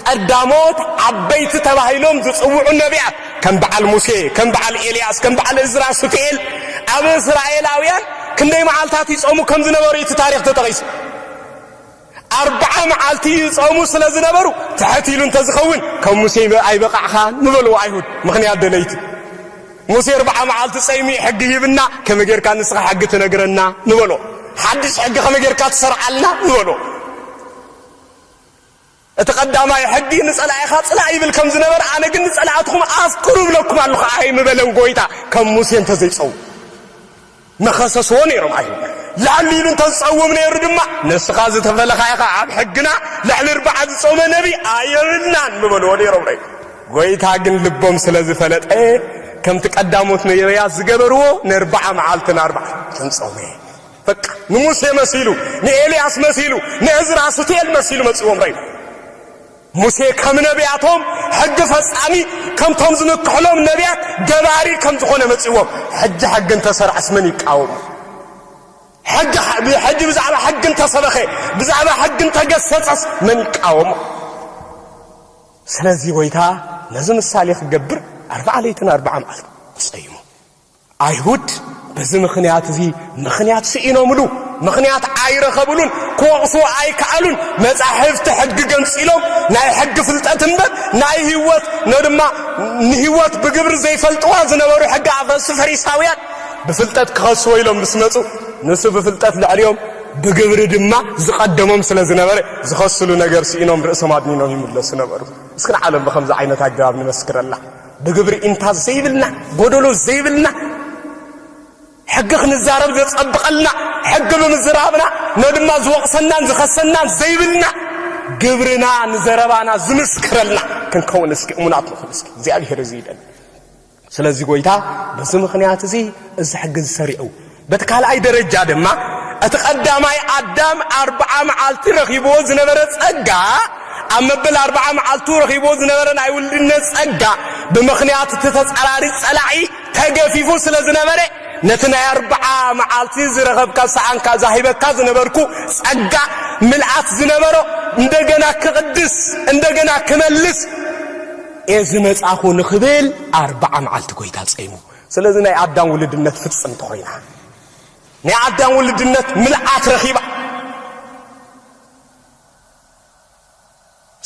ቀዳሞት ዓበይቲ ተባሂሎም ዝጽውዑ ነብያት፣ ከም በዓል ሙሴ፣ ከም በዓል ኤልያስ፣ ከም በዓል እዝራ ሱቱኤል፣ ኣብ እስራኤላውያን ክንደይ መዓልታት ይጾሙ ከም ዝነበሩ እዩ እቲ ታሪኽ ተጠቒሱ። ኣርብዓ መዓልቲ ይጾሙ ስለ ዝነበሩ ትሕት ኢሉ እንተ ዝኸውን ከም ሙሴ ኣይበቓዕኻን ምበልዎ ኣይሁድ፣ ምኽንያት ደለይቲ። ሙሴ ኣርብዓ መዓልቲ ጸይሚ ሕጊ ሂብና ከመይ ጌርካ ንስኻ ሕጊ ትነግረና ንበሎ ሓድሽ ሕጊ ከመይ ጌርካ ትሰርዓልና ንበሎ እቲ ቀዳማይ ሕጊ ንጸላኢኻ ጽላእ ይብል ከም ዝነበረ ኣነ ግን ንጸላእትኹም ኣፍቅሩ እብለኩም ኣለኹ ኣይምበለን ጎይታ ከም ሙሴ እንተዘይጸው ምኸሰስዎ ነይሮም ኣይሁድ። ልዕል ኢሉ እንተ ዝጸውም ነይሩ ድማ፣ ንስኻ ዝተፈለኻ ኢኻ፣ ኣብ ሕግና ልዕሊ እርብዓ ዝጾመ ነብይ ኣየብልናን ምበልዎ ነይሮም ነይሩ። ጐይታ ግን ልቦም ስለ ዝፈለጠ፣ ከምቲ ቀዳሞት ነብያት ዝገበርዎ ንእርብዓ መዓልትን ኣርባዕትን ጾመ። በቃ ንሙሴ መሲሉ፣ ንኤልያስ መሲሉ፣ ንእዝራ ሱቱኤል መሲሉ መጺእዎም ረይኑ። ሙሴ ከም ነብያቶም ሕጊ ፈጻሚ ከምቶም ዝምክሕሎም ነብያት ገባሪ ከም ዝኾነ መጺዎም ሕጂ ሕጊ እንተሰርዐስ መን ይቃወሙ? ሕጂ ብዛዕባ ሕጊ እንተሰበኸ ብዛዕባ ሕጊ እንተገሰጸስ መን ይቃወሙ? ስለዚ ጎይታ ነዚ ምሳሌ ክገብር ኣርብዓ ለይትን ኣርብዓ መዓልትን ጸይሙ ኣይሁድ በዚ ምኽንያት እዚ ምኽንያት ስኢኖምሉ፣ ምኽንያት ኣይረኸብሉን፣ ክወቕሱ ኣይከኣሉን፣ መጻሕፍቲ ሕጊ ገንጺሎም ናይ ሕጊ ፍልጠት እምበር ናይ ህይወት ን ድማ ንህይወት ብግብሪ ዘይፈልጥዋ ዝነበሩ ሕጊ ኣፍረሱ ፈሪሳውያን ብፍልጠት ክኸስዎ ኢሎም ምስ መጹ ንሱ ብፍልጠት ልዕሊኦም ብግብሪ ድማ ዝቐደሞም ስለ ዝነበረ ዝኸስሉ ነገር ስኢኖም ርእሶም ኣድኒኖም ይምለሱ ነበሩ። እስኪ ንዓለም ብከምዚ ዓይነት ኣገባብ ንመስክረላ። ብግብሪ እንታ ዘይብልና ጎደሎ ዘይብልና ሕጊ ክንዛረብ ዘጸብቐልና ሕጊ ብምዝራብና ነድማ ዝወቕሰናን ዝኸሰናን ዘይብልና ግብርና ንዘረባና ዝምስክረልና ክንከውን እስኪ እሙናት ንኹን እስኪ እግዚኣብሔር እዚ ይደል ስለዚ ጎይታ በዚ ምኽንያት እዚ እዚ ሕጊ ዝሰሪዑ በቲ ካልኣይ ደረጃ ድማ እቲ ቀዳማይ ኣዳም ኣርብዓ መዓልቲ ረኺብዎ ዝነበረ ጸጋ ኣብ መበል ኣርብዓ መዓልቱ ረኺብዎ ዝነበረ ናይ ውልድነት ጸጋ ብምኽንያት እቲ ተጻራሪ ጸላኢ ተገፊፉ ስለ ዝነበረ ነቲ ናይ ኣርብዓ መዓልቲ ዝረኸብካ ሰኣንካ ዛሂበካ ዝነበርኩ ጸጋ ምልኣት ዝነበሮ እንደገና ክቕድስ እንደገና ክመልስ እየ ዝመጻኹ ንኽብል ኣርብዓ መዓልቲ ጎይታ ጸይሙ ስለዚ ናይ ኣዳም ውልድነት ፍጽምቲ ኮይና፣ ናይ ኣዳም ውልድነት ምልኣት ረኺባ።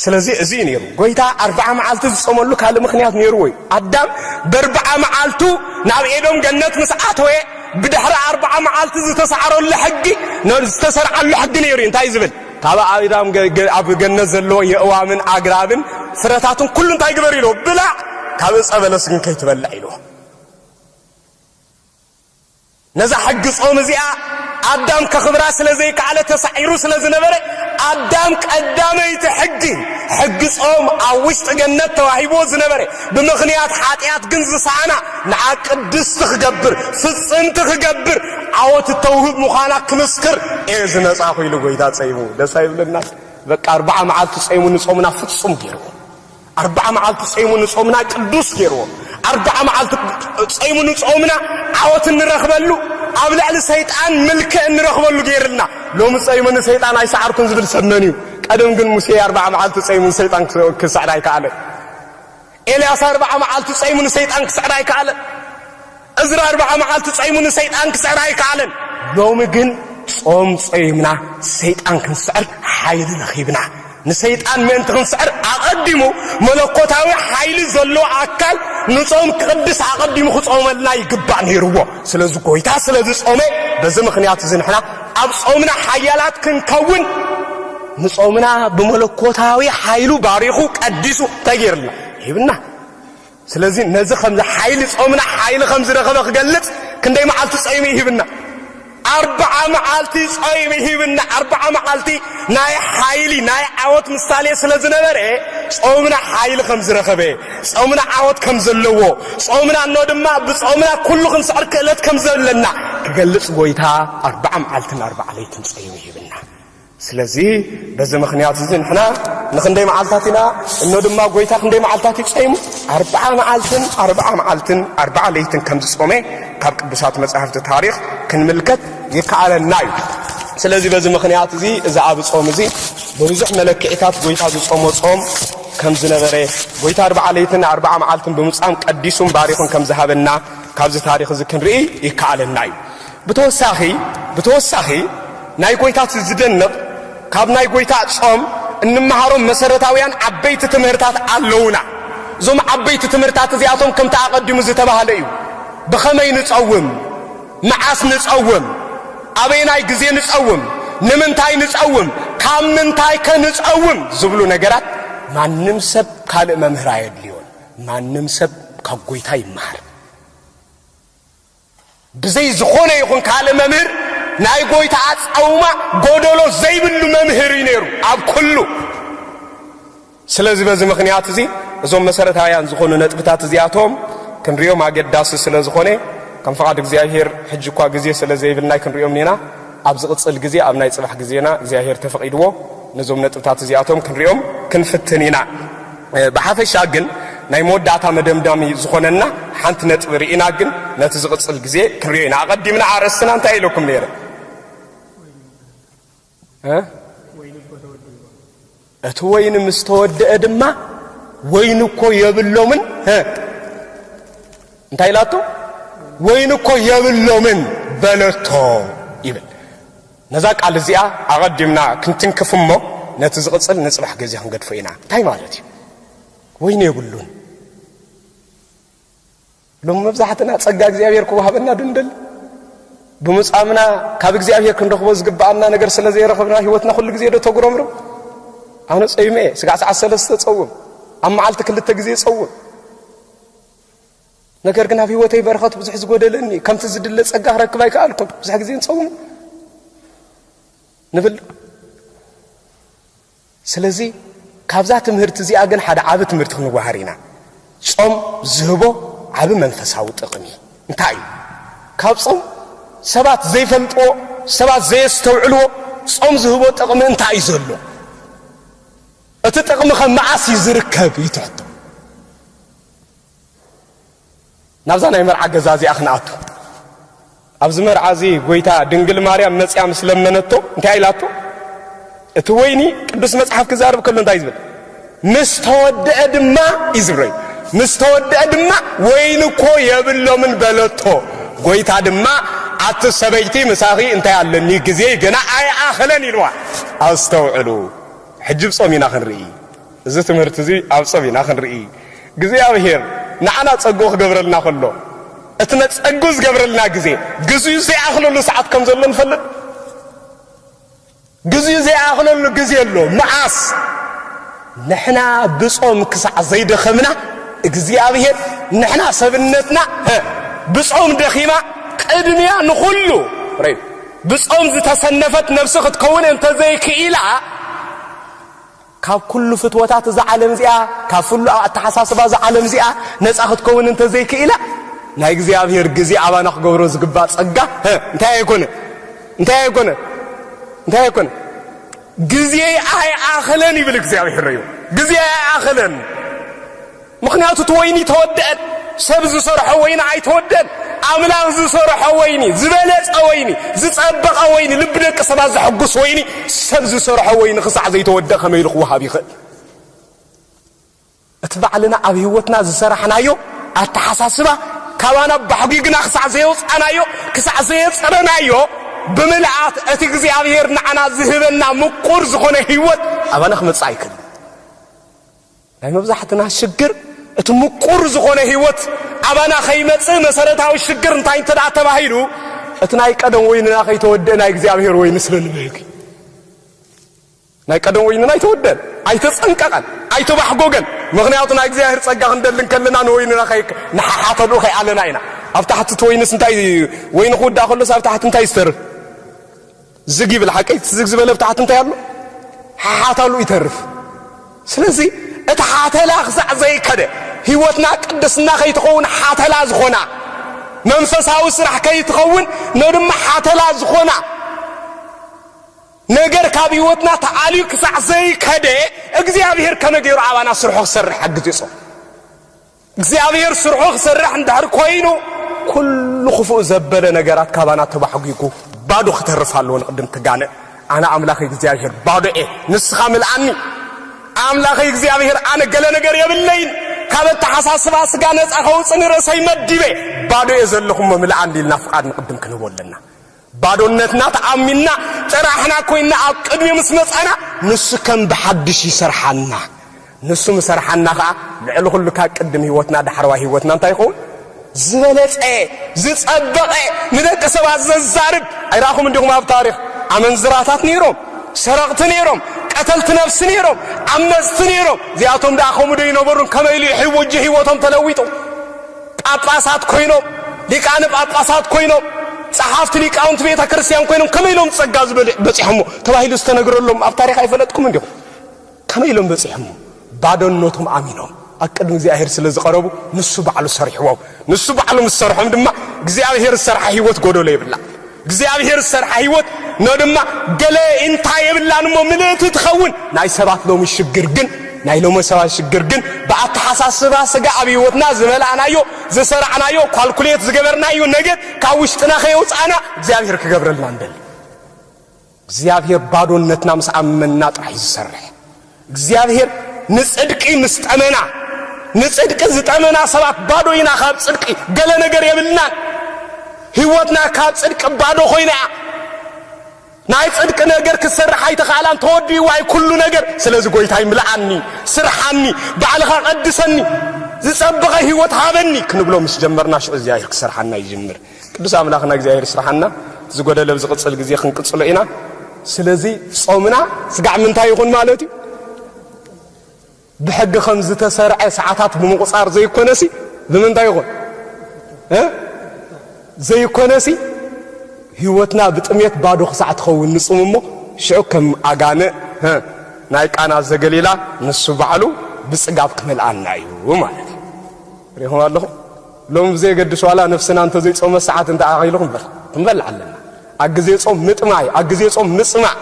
ስለዚ እዚ እዩ ነይሩ ጎይታ ኣርብዓ መዓልቲ ዝጾመሉ ካልእ ምክንያት ነይርዎ እዩ ኣዳም በርብዓ መዓልቱ ናብ ኤዶም ገነት ምስ ኣተወ ብድሕሪ ኣርብዓ መዓልቲ ዝተሳዕረሉ ሕጊ ዝተሰርዓሉ ሕጊ ነይሩ እዩ እንታይ ዝብል ካብ ኣእዳም ኣብ ገነት ዘለዎ የእዋምን ኣግራብን ፍረታትን ኩሉ እንታይ ግበር ኢልዎ፣ ብላዕ፣ ካብ እጸ በለስ ግን ከይትበልዕ ኢልዎ። ነዛ ሕጊ ጾም እዚኣ ኣዳም ከኽብራ ስለ ዘይከኣለ ተሳዒሩ ስለ ዝነበረ ኣዳም ቀዳመይቲ ሕጊ ሕጊ ጾም ኣብ ውሽጢ ገነት ተዋሂብዎ ዝነበረ ብምኽንያት ሓጢኣት ግን ዝሰኣና ንዓ ቅድስቲ ክገብር ፍጽምቲ ክገብር ዓወት እተውህብ ምዃና ክምስክር እየ ዝመጻኹ ኢሉ ጎይታ ጸይሙ ደስ ኣይብለና በቃ ኣርባዓ መዓልቲ ጸይሙ ንጾምና ፍጹም ገይርዎ ኣርባዓ መዓልቲ ጸይሙ ንጾምና ቅዱስ ገይርዎ ኣርባዓ መዓልቲ ጸይሙ ንጾምና ዓወት እንረኽበሉ ኣብ ልዕሊ ሰይጣን ምልክዕ እንረኽበሉ ገይርልና ሎሚ ጸይሙ ንሰይጣን ኣይሰዓርኩን ዝብል ሰብ መን እዩ ቀደም ግን ሙሴ ኣርባዓ መዓልቲ ጸይሙ ንሰይጣን ክስዕር ኣይከኣለን ኤልያስ ኣርብዓ መዓልቲ ጸይሙ ንሰይጣን ክስዕር ኣይከኣለን። እዝራ ኣርብዓ መዓልቲ ጸይሙ ንሰይጣን ክስዕር ኣይከኣለን። ሎሚ ግን ጾም ጾይምና ሰይጣን ክንስዕር ሓይሊ ረኺብና። ንሰይጣን ምእንቲ ክንስዕር ኣቐዲሙ መለኮታዊ ሓይሊ ዘለዎ ኣካል ንጾም ክቕድስ ኣቐዲሙ ክጾመልና ይግባእ ነይርዎ። ስለዚ ጎይታ ስለ ዝጾመ በዚ ምኽንያት እዚ ንሕና ኣብ ጾምና ሓያላት ክንከውን ንጾምና ብመለኮታዊ ሓይሉ ባሪኹ ቀዲሱ እንታይ ገይርልና ሂብና ስለዚ ነዚ ከምዚ ሓይሊ ጾምና ሓይሊ ከም ዝረኸበ ክገልጽ ክንደይ መዓልቲ ጾይሚ ሂብና ኣርብዓ መዓልቲ ጾይሚ ሂብና ኣርብዓ መዓልቲ ናይ ሓይሊ ናይ ዓወት ምሳሌ ስለ ዝነበረ ጾምና ሓይሊ ከም ዝረኸበ ጾምና ዓወት ከም ዘለዎ ጾምና እኖ ድማ ብጾምና ኩሉ ክንስዕር ክእለት ከም ዘለና ክገልጽ ጐይታ ኣርብዓ መዓልትን ኣርብዓ ለይትን ጾይሚ ሂብና ስለዚ በዚ ምኽንያት እዚ ንሕና ንኽንደይ መዓልታት ኢና፣ እኖ ድማ ጐይታ ክንደይ መዓልታት እዩ ጸይሙ? ኣርብዓ መዓልትን ኣርብዓ መዓልትን ኣርብዓ ለይትን ከም ዝጾመ ካብ ቅዱሳት መጻሕፍቲ ታሪኽ ክንምልከት ይከኣለና እዩ። ስለዚ በዚ ምኽንያት እዚ እዚ ኣብ ጾም እዚ ብብዙሕ መለክዒታት ጐይታ ዝጾሞ ጾም ከም ዝነበረ ጐይታ ኣርብዓ ለይትን ኣርብዓ መዓልትን ብምጻም ቀዲሱን ባሪኹን ከም ዝሃበና ካብዚ ታሪኽ እዚ ክንርኢ ይከኣለና እዩ። ብተወሳኺ ብተወሳኺ ናይ ጎይታት ዝደንቕ ካብ ናይ ጎይታ ጾም እንመሃሮም መሰረታውያን ዓበይቲ ትምህርታት ኣለዉና። እዞም ዓበይቲ ትምህርታት እዚኣቶም ከምቲ ኣቐዲሙ ዝተባህለ እዩ። ብኸመይ ንጸውም? መዓስ ንጸውም? ኣበየናይ ግዜ ንጸውም? ንምንታይ ንጸውም? ካብ ምንታይ ከ ንጸውም? ዝብሉ ነገራት ማንም ሰብ ካልእ መምህር ኣየድልዮን። ማንም ሰብ ካብ ጎይታ ይመሃር። ብዘይ ዝኾነ ይኹን ካልእ መምህር ናይ ጎይታ ኣጻውማ ጎደሎ ዘይብሉ መምህር እዩ ነይሩ ኣብ ኩሉ። ስለዚ በዚ ምኽንያት እዚ እዞም መሰረታውያን ዝኾኑ ነጥብታት እዚኣቶም ክንሪኦም ኣገዳሲ ስለ ዝኾነ ከም ፍቓድ እግዚኣብሄር ሕጂ እኳ ግዜ ስለ ዘይብልና ክንሪኦም ኒና ኣብ ዝቕጽል ግዜ ኣብ ናይ ጽባሕ ግዜና እግዚኣብሄር ተፈቒድዎ ነዞም ነጥብታት እዚኣቶም ክንሪኦም ክንፍትን ኢና። ብሓፈሻ ግን ናይ መወዳእታ መደምዳሚ ዝኾነና ሓንቲ ነጥቢ ርኢና ግን ነቲ ዝቕጽል ግዜ ክንሪኦ ኢና። ኣቐዲምና ኣርእስትና እንታይ ኢለኩም ነይረ? እቲ ወይኒ ምስ ተወድአ ድማ ወይኒ እኮ የብሎምን እንታይ ኢላቶ ወይኒ እኮ የብሎምን በለቶ ይብል ነዛ ቃል እዚኣ ኣቐዲምና ክንትንክፍ እሞ ነቲ ዝቕጽል ንጽባሕ ግዜ ክንገድፎ ኢና። እንታይ ማለት እዩ? ወይኒ የብሉን። ሎሚ መብዛሕትና ጸጋ እግዚኣብሔር ክወሃበና ዶ ንደሊ? ብምጻምና ካብ እግዚኣብሔር ክንረኽቦ ዝግብኣና ነገር ስለ ዘይረኽብና ህይወትና ኩሉ ግዜ ዶ ተጉረምርም? ኣነ ጸይመ እየ። ስጋዕ ሰዓት ሰለስተ ጸውም፣ ኣብ መዓልቲ ክልተ ግዜ ጸውም። ነገር ግን ኣብ ህይወተይ በረኸት ብዙሕ ዝጎደለኒ እዩ ከምቲ ዝድለ ጸጋ ክረክብ ኣይከኣልኩን ብዙሕ ግዜ ንጸውም ንብል ስለዚ ካብዛ ትምህርቲ እዚኣ ግን ሓደ ዓብ ትምህርቲ ክንዋሃር ኢና ጾም ዝህቦ ዓብ መንፈሳዊ ጥቕሚ እንታይ እዩ ካብ ጾም ሰባት ዘይፈልጥዎ ሰባት ዘየስተውዕልዎ ጾም ዝህቦ ጥቕሚ እንታይ እዩ ዘሎ እቲ ጥቕሚ ከ መዓስ እዩ ዝርከብ ይትሕቶ ናብዛ ናይ መርዓ ገዛ እዚኣ ክንኣቱ ኣብዚ መርዓ እዚ ጎይታ ድንግል ማርያም መፅያ ምስ ለመነቶ እንታይ ኢላቶ እቲ ወይኒ ቅዱስ መፅሓፍ ክዛርብ ከሎ እንታይ ዝብል ምስ ተወድአ ድማ እዩ ዝብለዩ ምስ ተወድአ ድማ ወይኒ እኮ የብሎምን በለቶ ጎይታ ድማ ኣቲ ሰበይቲ ምሳኺ እንታይ ኣለኒ ግዜ ገና ኣይኣኸለን ኢልዋ ኣስተውዕሉ ሕጂ ብፆም ኢና ክንርኢ እዚ ትምህርቲ እዚ ኣብ ጸብ ኢና ክንርኢ እግዚኣብሔር ንዓና ጸግኡ ክገብረልና ከሎ እቲ ነጸግኡ ዝገብረልና ግዜ ግዜኡ ዘይኣኽለሉ ሰዓት ከም ዘሎ ንፈልጥ ግዜኡ ዘይኣኽለሉ ግዜ ኣሎ መዓስ ንሕና ብጾም ክሳዕ ዘይደኸምና እግዚኣብሔር ንሕና ሰብነትና ብጾም ደኺማ ቅድሚያ ንኹሉ ብጾም ዝተሰነፈት ነብሲ ክትከውን እንተዘይክኢላ ካብ ኩሉ ፍትወታት እዛ ዓለም እዚኣ፣ ካብ ፍሉ ኣብ ኣተሓሳስባ እዛ ዓለም እዚኣ ነጻ ክትከውን እንተ ዘይክኢላ፣ ናይ እግዚኣብሔር ግዜ ኣባና ክገብሮ ዝግባእ ጸጋ ህ እንታይ ኣይኮነ እንታይ ኣይኮነ እንታይ ኣይኮነ ግዜ ኣይኣኸለን ይብል እግዚኣብሔር እዩ ግዜ ኣይኣኸለን ምኽንያቱ እቲ ወይኒ ተወደኣን ሰብ ዝሰርሖ ወይኒ ኣይተወደን ኣምላኽ ዝሰርሖ ወይኒ ዝበለጸ ወይኒ ዝጸበቐ ወይኒ ልቢ ደቂ ሰባት ዘሐጉስ ወይኒ ሰብ ዝሰርሖ ወይኒ ክሳዕ ዘይተወደ ከመይ ኢሉ ክወሃብ ይኽእል እቲ ባዕልና ኣብ ህይወትና ዝሰራሕናዮ ኣተሓሳስባ ካባና ባሕጒግና ክሳዕ ዘየውፃናዮ ክሳዕ ዘየፅረናዮ ብምልኣት እቲ እግዚኣብሔር ንዓና ዝህበና ምቁር ዝኾነ ህይወት ኣባና ክመፅእ ኣይክእል ናይ መብዛሕትና ሽግር እቲ ምቁር ዝኾነ ህይወት ኣባና ከይመጽእ መሰረታዊ ሽግር እንታይ እንተ ተባሂሉ እቲ ናይ ቀደም ወይንና ከይተወድእ ናይ እግዚኣብሔር ወይኒ ስለ ንብህግ ናይ ቀደም ወይንና ኣይተወደን ኣይተጸንቀቐን ኣይተባሕጎገን ምክንያቱ ናይ እግዚኣብሔር ጸጋ ክንደሊ ከለና ንወይንና ንሓሓተሉ ከይኣለና ኢና ኣብ ታሕቲ እቲ ወይንስ እንታይ ወይኒ ክውዳእ ከሎስ ኣብ ታሕቲ እንታይ ዝተርፍ ዝግ ይብል ሓቀይ ትዝግ ዝበለ ብታሕቲ እንታይ ኣሎ ሓሓታሉ ይተርፍ ስለዚ እቲ ሓተላ ክሳዕ ዘይከደ ህይወትና ቅድስና ከይትኸውን ሓተላ ዝኾና መንፈሳዊ ስራሕ ከይትኸውን ነድማ ሓተላ ዝኾና ነገር ካብ ህይወትና ተኣልዩ ክሳዕ ዘይከደ እግዚኣብሔር ከመይ ገይሩ ኣባና ስርሖ ክሰርሕ ሓግዝ ይጾ እግዚኣብሔር ስርሑ ክሰርሕ እንድሕር ኮይኑ ኩሉ ክፉእ ዘበለ ነገራት ካባና ተባሕጒጉ ባዶ ክተርፍ ኣለዎ ንቅድም ትጋነ ኣነ ኣምላኽ እግዚኣብሔር ባዶ እየ ንስኻ ምልኣኒ ኣምላኽ እግዚኣብሔር ኣነ ገለ ነገር የብለይን ካብ ኣተሓሳስባ ስጋ ነፃ ከውፅ ንርእሰይ መዲበ ባዶ እየ ዘለኹሞ ምልኣኒ ኢልና ፍቃድ ንቅድም ክንህቦ ኣለና ባዶነትና ተኣሚንና ጥራሕና ኮይንና ኣብ ቅድሚኡ ምስ መጻና ንሱ ከም ብሓድሽ ይሰርሓና። ንሱ ምስ ሰርሓና ከኣ ልዕሊ ኩሉ ካብ ቅድም ህይወትና ዳሕረዋይ ህይወትና እንታይ ይኸውን? ዝበለጸ ዝጸበቐ ንደቂ ሰባት ዘዛርብ ኣይረኣኹም እንዲኹም ኣብ ታሪኽ ኣመንዝራታት ነይሮም ሰረቕቲ ነይሮም ቀተልቲ ነብሲ ነይሮም ዓመጽቲ ነይሮም እዚኣቶም ደኣ ከምኡ ዶ ይነበሩን ከመይ ኢሉ ሕወጅ ህይወቶም ተለዊጡ ጳጳሳት ኮይኖም፣ ሊቃነ ጳጳሳት ኮይኖም፣ ጸሓፍቲ ሊቃውንቲ ቤተ ክርስቲያን ኮይኖም ከመይ ኢሎም ጸጋ እዚ በጺሖሞ ተባሂሉ ዝተነግረሎም ኣብ ታሪኽ ኣይፈለጥኩምን ዲኹም? ከመይ ኢሎም በጺሖሞ? ባዶነቶም ኣሚኖም ኣብ ቅድሚ እግዚኣብሔር ስለ ዝቐረቡ ንሱ ባዕሉ ሰሪሕዎም። ንሱ ባዕሉ ምስ ሰርሖም ድማ እግዚኣብሔር ዝሰርሓ ሕይወት ጎደሎ የብላ። እግዚኣብሔር ዝሰርሓ ህይወት ን ድማ ገለ ኢንታ የብላን እሞ ምልእቲ ትኸውን ናይ ሰባት ሎሚ ሽግር ግን ናይ ሎሚ ሰባት ሽግር ግን ብኣተሓሳስባ ስጋ ኣብ ህይወትና ዝበላዕናዮ ዝሰራዕናዮ ኳልኩሌት ዝገበርናዮ ነገር ካብ ውሽጥና ከየውፃእና እግዚኣብሔር ክገብረልና ንደሊ እግዚኣብሔር ባዶነትና ምስ ኣመንና ጥራሕ እዩ ዝሰርሕ። እግዚኣብሔር ንፅድቂ ምስ ጠመና ንፅድቂ ዝጠመና ሰባት ባዶ ኢና ካብ ፅድቂ ገለ ነገር የብልናን። ህይወትና ካብ ፅድቂ ባዶ ኮይና እያ። ናይ ጽድቂ ነገር ክትሰርሕ ኣይተኽኣላን ተወዲእዋ እዩ ኩሉ ነገር ስለዚ ጎይታይ ምልኣኒ ስርሓኒ ባዕልኻ ቀድሰኒ ዝጸበቐ ህይወት ሃበኒ ክንብሎ ምስ ጀመርና ሽዑ እግዚኣብሔር ክሰርሓና ይጅምር ቅዱስ ኣምላኽና እግዚኣብሔር ይስራሓና ዝጎደለ ዝቕጽል ግዜ ክንቅጽሎ ኢና ስለዚ ጾምና ስጋዕ ምንታይ ይኹን ማለት እዩ ብሕጊ ከም ዝተሰርዐ ሰዓታት ብምቑጻር ዘይኮነሲ ብምንታይ ይኹን ዘይኮነሲ ህይወትና ብጥሜት ባዶ ክሳዕ ትኸውን ንጹም እሞ ሽዑ ከም ኣጋነ ናይ ቃና ዘገሊላ ንሱ ባዕሉ ብጽጋብ ክመልኣና እዩ ማለት ሪኹም ኣለኹም ሎሚ ብዘየገድስ ዋላ ነፍስና እንተዘይጾመ ሰዓት እንተኣኺሉ ክንበልዕ ኣለና። ኣብ ግዜ ጾም ምጥማይ፣ ኣብ ግዜ ጾም ምጽማእ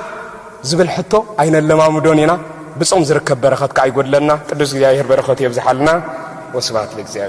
ዝብል ሕቶ ኣይነለማምዶን ኢና። ብጾም ዝርከብ በረኸት ከኣ ይጎድለና። ቅዱስ እግዚኣብሔር በረኸቱ የብዝሓልና። ወስብሐት ለእግዚኣብሔር።